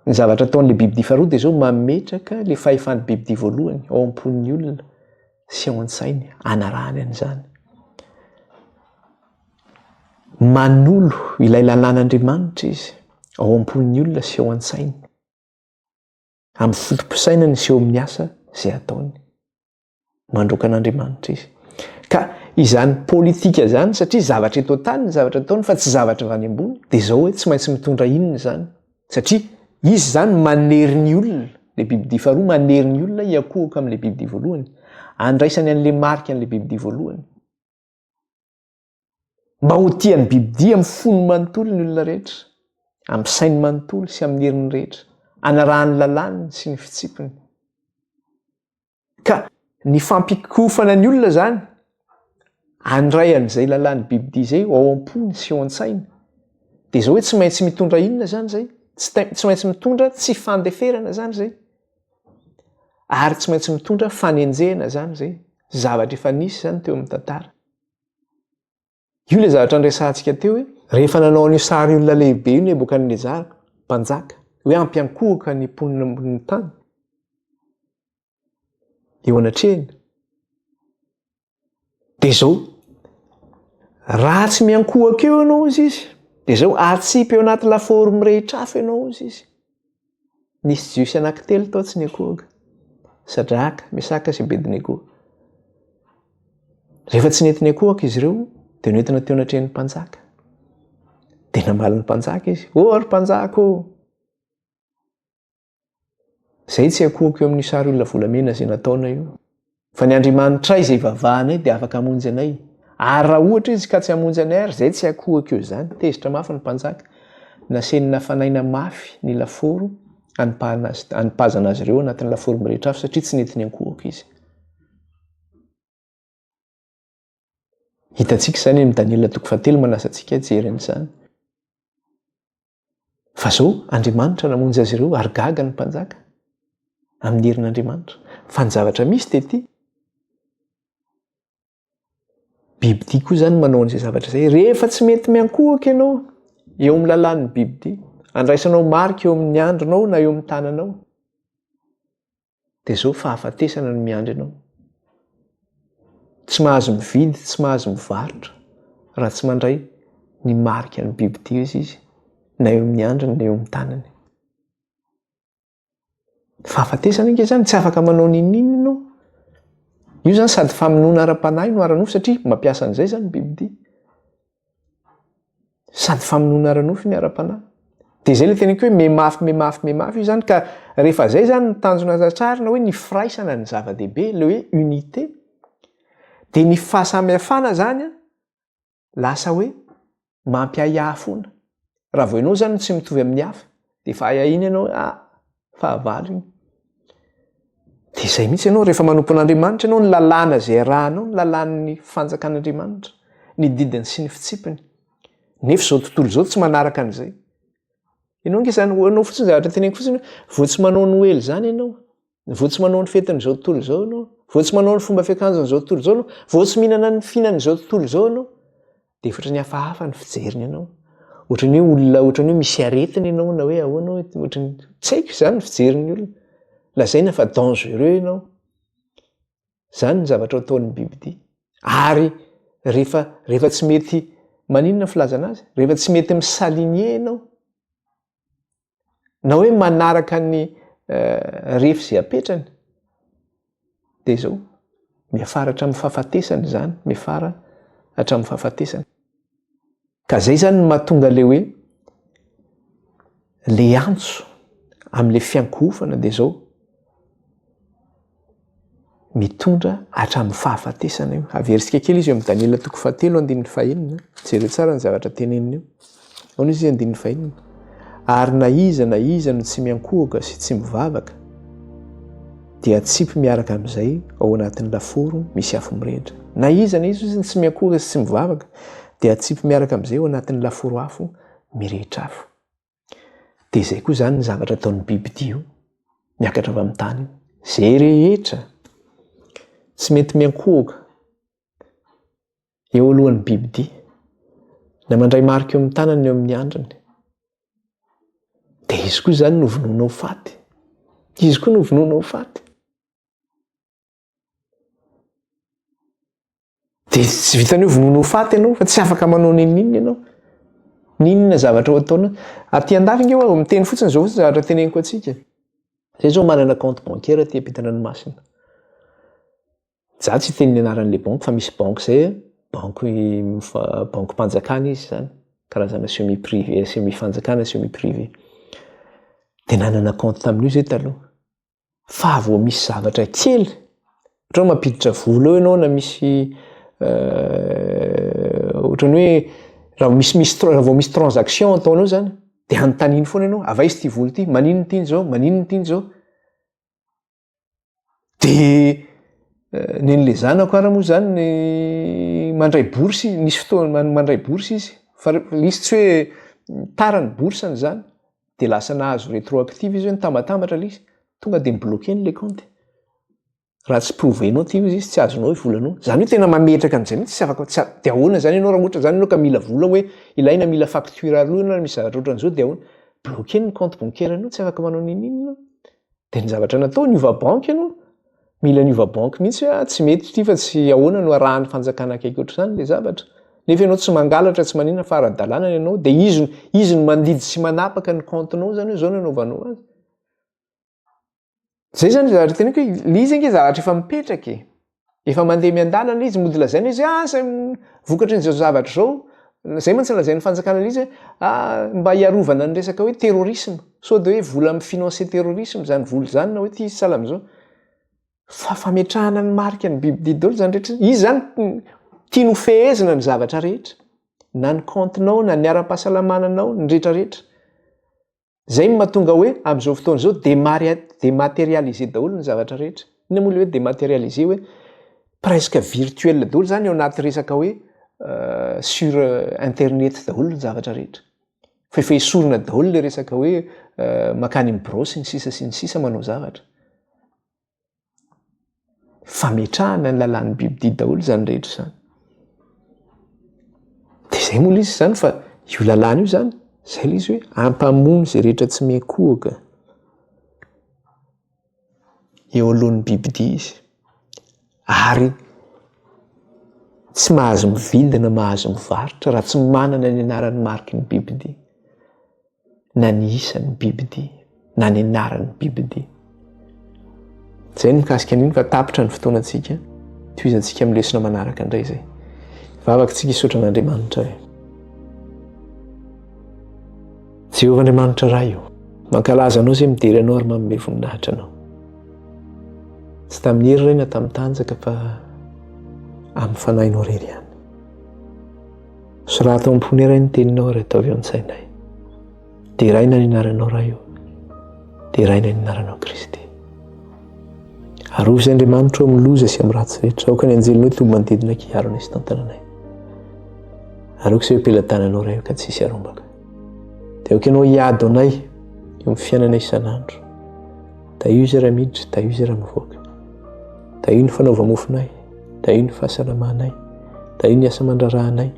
ny zavatra ataon'le biby dia faharoa dia zao mametraka le fahefan'ny biby dia voalohany ao am-pon'ny olona sy ao an-tsainy anarahany an'izany. Manolo ilay lalàn'Andriamanitra izy ao am-pon'ny olona sy ao an-tsainy. Amin'ny foto-pisainany sy eo amin'ny asa izay ataony. Mandroaka an'Andriamanitra izy. Ka izany politika izany, satria zavatra eto an-tany ny zavatra ataony fa tsy zavatra avy any ambony, dia izao hoe tsy maintsy mitondra inona izany? Satria izy izany manery ny olona, ilay bibidia faharoa manery ny olona hiankohoka amin'ilay bibidia voalohany, andraisany an'ilay marika an'ilay bibidia voalohany. Mba ho tia ny bibidia amin'ny fony manontolo ny olona rehetra, amin'ny sainy manontolo sy amin'ny heriny rehetra, anarahany lalàniny sy ny fitsipiny. Ka ny fampikofana ny olona izany, handray an'izay lalàn'ny bibidia izay ao am-pony sy ao an-tsainy, dia izao hoe tsy maintsy mitondra inona izany izay? Tsy maintsy mitondra tsy fandeferana izany izay. Ary tsy maintsy mitondra fanenjehana izany izay. Zavatra efa nisy izany teo amin'ny tantara. Io le zavatra niresahantsika teo hoe rehefa nanao an'io sary olona lehibe io Nebokadnezara, mpanjaka, hoe ampiankohoka ny mponina ambonin'ny tany. Eo anatrehany. Dia izao, raha tsy miankohoka eo ianao izy izy, dia izao atsipy eo anaty lafaoro mirehitra afo ianao izy izy. Nisy jiosy anankitelo tao tsy nikohoka. Sadraka, Mesaka sy Abednego. Rehefa tsy nety nikohoka izy ireo, dia nentina teo anatrehan'ny mpanjaka. Dia namaly ny mpanjaka izy, "Ô oh, ry mpanjaka ô! Oh! Zay tsy akohoko eo amin'ny sary olona volamena izay nataonao io. Fa ny Andriamanitray izay ivavahanay dia afaka hamonjy anay. Ary raha ohatra Izy ka tsy hamonjy anay ary, izay tsy hakohaka eo izany. Tezitra mafy ny mpanjaka. Nasiany nafanaina mafy ny lafaoro hanipahana azy, hanipazana azy ireo anatin'ny lafaoro mirehitra afo satria tsy nety niankohoka izy. Hitantsika izany amin'ny Daniela toko fahatelo manasa antsika hijery an'izany. Fa izao Andriamanitra namonjy azy ireo ary gaga ny mpanjaka amin'ny herin'Andriamanitra. Fa ny zavatra misy dia ity. Biby ity koa izany manao an'izay zavatra izay. Rehefa tsy mety miankohoka ianao eo amin'ny lalàn'ny biby ity, andraisanao marika eo amin'ny andronao na eo amin'ny tananao. dia izao fahafatesana no miandry anao. Tsy mahazo mividy, tsy mahazo mivarotra raha tsy mandray ny marika ny biby tia izy izy na eo amin'ny andriny na eo amin'ny tanany. Fahafatesana ange izany, tsy afaka manao n'inon'inona ianao. Io izany sady famonoana ara-panahy no ara-nofo satria mampiasa an'izay izany ny biby tia. sady famonoana ara-nofo ny ara-panahy dia izay le teneniko hoe memafy memafy memafy io zany ka rehefa zay zany ny tanjona aza tsarina hoe ny firaisana ny zava-dehibe le hoe unité dia ny fahasamihafana zany a lasa hoe mampiahiahy foana raha vao ianao zany tsy mitovy amin'ny hafa dia efa ahiahiana ianao hoe ah fahavalo iny dia izay mihitsy ianao rehefa manompo an'andriamanitra ianao ny lalàna izay arahanao ny lalàn'ny fanjakan'andriamanitra ny didiny sy ny fitsipiny nefa izao tontolo izao tsy manaraka an'izay ianao nge izany hoanao fotsiny zavatra teneniko fotsiny vao tsy manao ny hoely izany ianao vao tsy manao ny fetin'izao tontolo izao ianao vao tsy manao ny fomba fiakanjon'izao tontolo izao ianao vao tsy mihinana ny fihinan'izao tontolo izao ianao dia efa ohatran'ny hafahafa ny fijeriny anao ohatran'ny hoe olona ohatran'ny hoe misy aretina ianao na hoe ahoana hoe ohatran'ny tsy haiko izany ny fijerin'ny olona lazaina fa dangereux ianao izany ny zavatra ataon'ny bibidia ary rehefa rehefa tsy mety maninona ny filazana azy rehefa tsy mety misaligner ianao na hoe manaraka ny eh, refy izay apetrany dia izao miafara hatramin'ny fahafatesana izany miafara hatramin'ny fahafatesana ka zay zany ny mahatonga le hoe le antso amin'le fiankohofana dia izao mitondra hatramin'ny fahafatesana io. Averisika kely izy eo amin'ny Daniela toko fahatelo andininy fahenina. Jereo tsara ny zavatra teneniny io. Aona izy andininy fahenina. Ary na iza na iza no tsy miankohoka sy tsy mivavaka dia tsipy miaraka amin'izay ao anatin'ny laforo misy afo mirehitra. Na iza na iza izy tsy miankohoka sy tsy mivavaka dia tsipy miaraka amin'izay ao anatin'ny laforo afo mirehitra afo. Dia izay koa izany ny zavatra ataon'ny bibidia io, miakatra avy amin'ny tany io. Izay rehetra tsy mety miankohoka eo alohan'ny bibidia na mandray marika eo amin'ny tanany eo amin'ny andriny. Dia izy koa izany no vonoina ho faty. Izy koa no vonoina ho faty. dia tsy vitan'io vonoana ho faty ianao fa tsy afaka manao neninina ianao ninona zavatra ho ataona aty an-dafy nge hoe miteny fotsiny izao fotsiny zavatra teneniko antsika zay izao manana compte bancaire aty am-pitandranomasina za tsy hiteny ny anaran'le banque fa misy banque zay banque banque mpanjakana izy zany karazana semi privé semi fanjakana semi privé dia nanana compte tamin'io zay taloha fa vao misy zavatra kely ohatrany mampiditra vola eo ianao na misy euh, ohatrany hoe raha misy misy raha vao misy transaction ataonao zany de anontaniny foana ianao ava izy ty vola ity maninony tiny zao maninony tiny zao de euh, nenle zanako ara moa zany ny mandray bourse misy fotoana mandray bourse izy fa izy tsy hoe tara ny bourseny zany dia lasa nahazo retroactive izy hoe nitambatambatra ilay izy tonga dia mi-bloquer ny le compte raha tsy prouver-nao ity izy tsy azonao ny volanao izany hoe tena mametraka an'izay mihitsy tsy afaka tsy dia ahoana izany ianao raha ohatra izany ianao ka mila vola hoe ilaina mila facture aloha ianao raha misy zavatra ohatran'izao dia ahoana bloquer ny compte bancaire-nao tsy afaka manao n'inon'inona de ny zavatra natao niova banky ianao mila niova banky mihitsy hoe ah, tsy mety ity fa tsy ahoana no arahan'ny fanjakana akaiky ohatr'izany le zavatra nefa ianao tsy mangalatra tsy manina fa ara-dalàna ny anao de izy izy ny mandidy sy manapaka ny kaontinao zany hoe zao ny anaovanao azy zay zany le zavatra teneko hoe le izy ange zavatra efa mipetraka e Efa mandeha miandalana izy, mody lazaina izy, ah, zay vokatry ny zao zavatra zao, zay mantsy lazain'ny fanjakana izy, ah, mba hiarovana ny resaka hoe terrorisme, sao de hoe vola mi-financer terrorisme zany vola zany na hoe ty izy sahala amizao. Fa fametrahana ny marika ny biby didy daholo zany rehetra, izy zany tiany ho fehezina ny zavatra rehetra, na ny kaontinao, na ny ara-pahasalamana anao, ny retraretra. Zay no mahatonga hoe amin'izao fotoana izao dematerialiser daholo ny zavatra rehetra. Inona moa le hoe dematerialiser hoe presque virtuel daholo zany ao anaty resaka hoe sur internet daholo ny zavatra rehetra. Fa efa esorina daholo le resaka hoe makany amin'ny birao sy ny sisa sy ny sisa manao zavatra. Fametrahana ny lalàn'ny bibidia daholo izany rehetra izany. Dia izay moa izy izany fa io lalàna io izany, izay ilay izy hoe hampamono izay rehetra tsy miankohoka eo alohan'ny bibidia izy. Ary tsy mahazo mividy na mahazo mivarotra raha tsy manana ny anaran'ny mariky ny bibidia. na ny isan'ny bibidia na ny anaran'ny bibidia. Izay ny mikasika an'iny fa tapitra ny fotoanantsika. Tohizantsika amin'ny lesona manaraka indray izay. Vavakantsika hisaotra an'Andriamanitra e. Jehovah Andriamanitra Ray o. Mankalaza anao izay midera anao ary manome voninahitra anao. Tsy tamin'ny hery iray na tamin'ny tanjaka fa amin'ny fanahinao irery ihany. Soraty ao am-pony iray ny teninao ary ataovy eo an-tsainay. Deraina ny anaranao Ray o. Deraina ny anaranao Kristy. Arovy izay Andriamanitro amin'ny loza sy amin'ny ratsy rehetra. Aoka ny anjelinao toby manodidina kiaro anay sy tantananay. Aroako izay pelatananao Ray o ka tsisy arombaka. Dia aoka ianao hiady ho anay eo amin'ny fiainana isan'andro. Tahio izay raha miditra, tahio izay raha mivoaka. Tahio ny fanaova-mofonay, tahio ny fahasalamanay, tahio ny asa aman-draharahanay,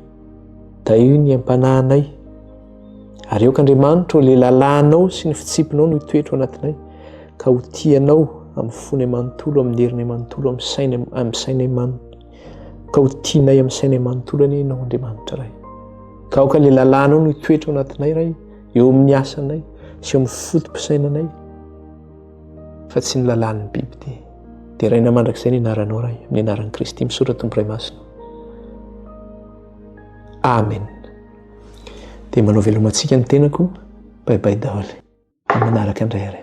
tahio ny ampanahanay. Ary aoka Andriamanitra ilay lalànao sy ny fitsipinao no toetro anatinay, ka ho tianao amin'ny fonay manontolo, amin'ny herinay manontolo, amin'ny sainay, amin'ny sainay manontolo. Ka ho tianay amin'ny sainay manontolo anie ianao Andriamanitra Ray. Ka aoka ilay lalànao no toetro anatinay Ray. eo amin'ny asanay sy eo amin'ny foto-pisainanay fa tsy ny lalàn'ny biby dia deraina mandrakizay ny anaranao ray amin'ny anaran'i kristy misaotra tompo ray masina amen dia manao velomantsika ny tenako baibay daholo manaraka indray ary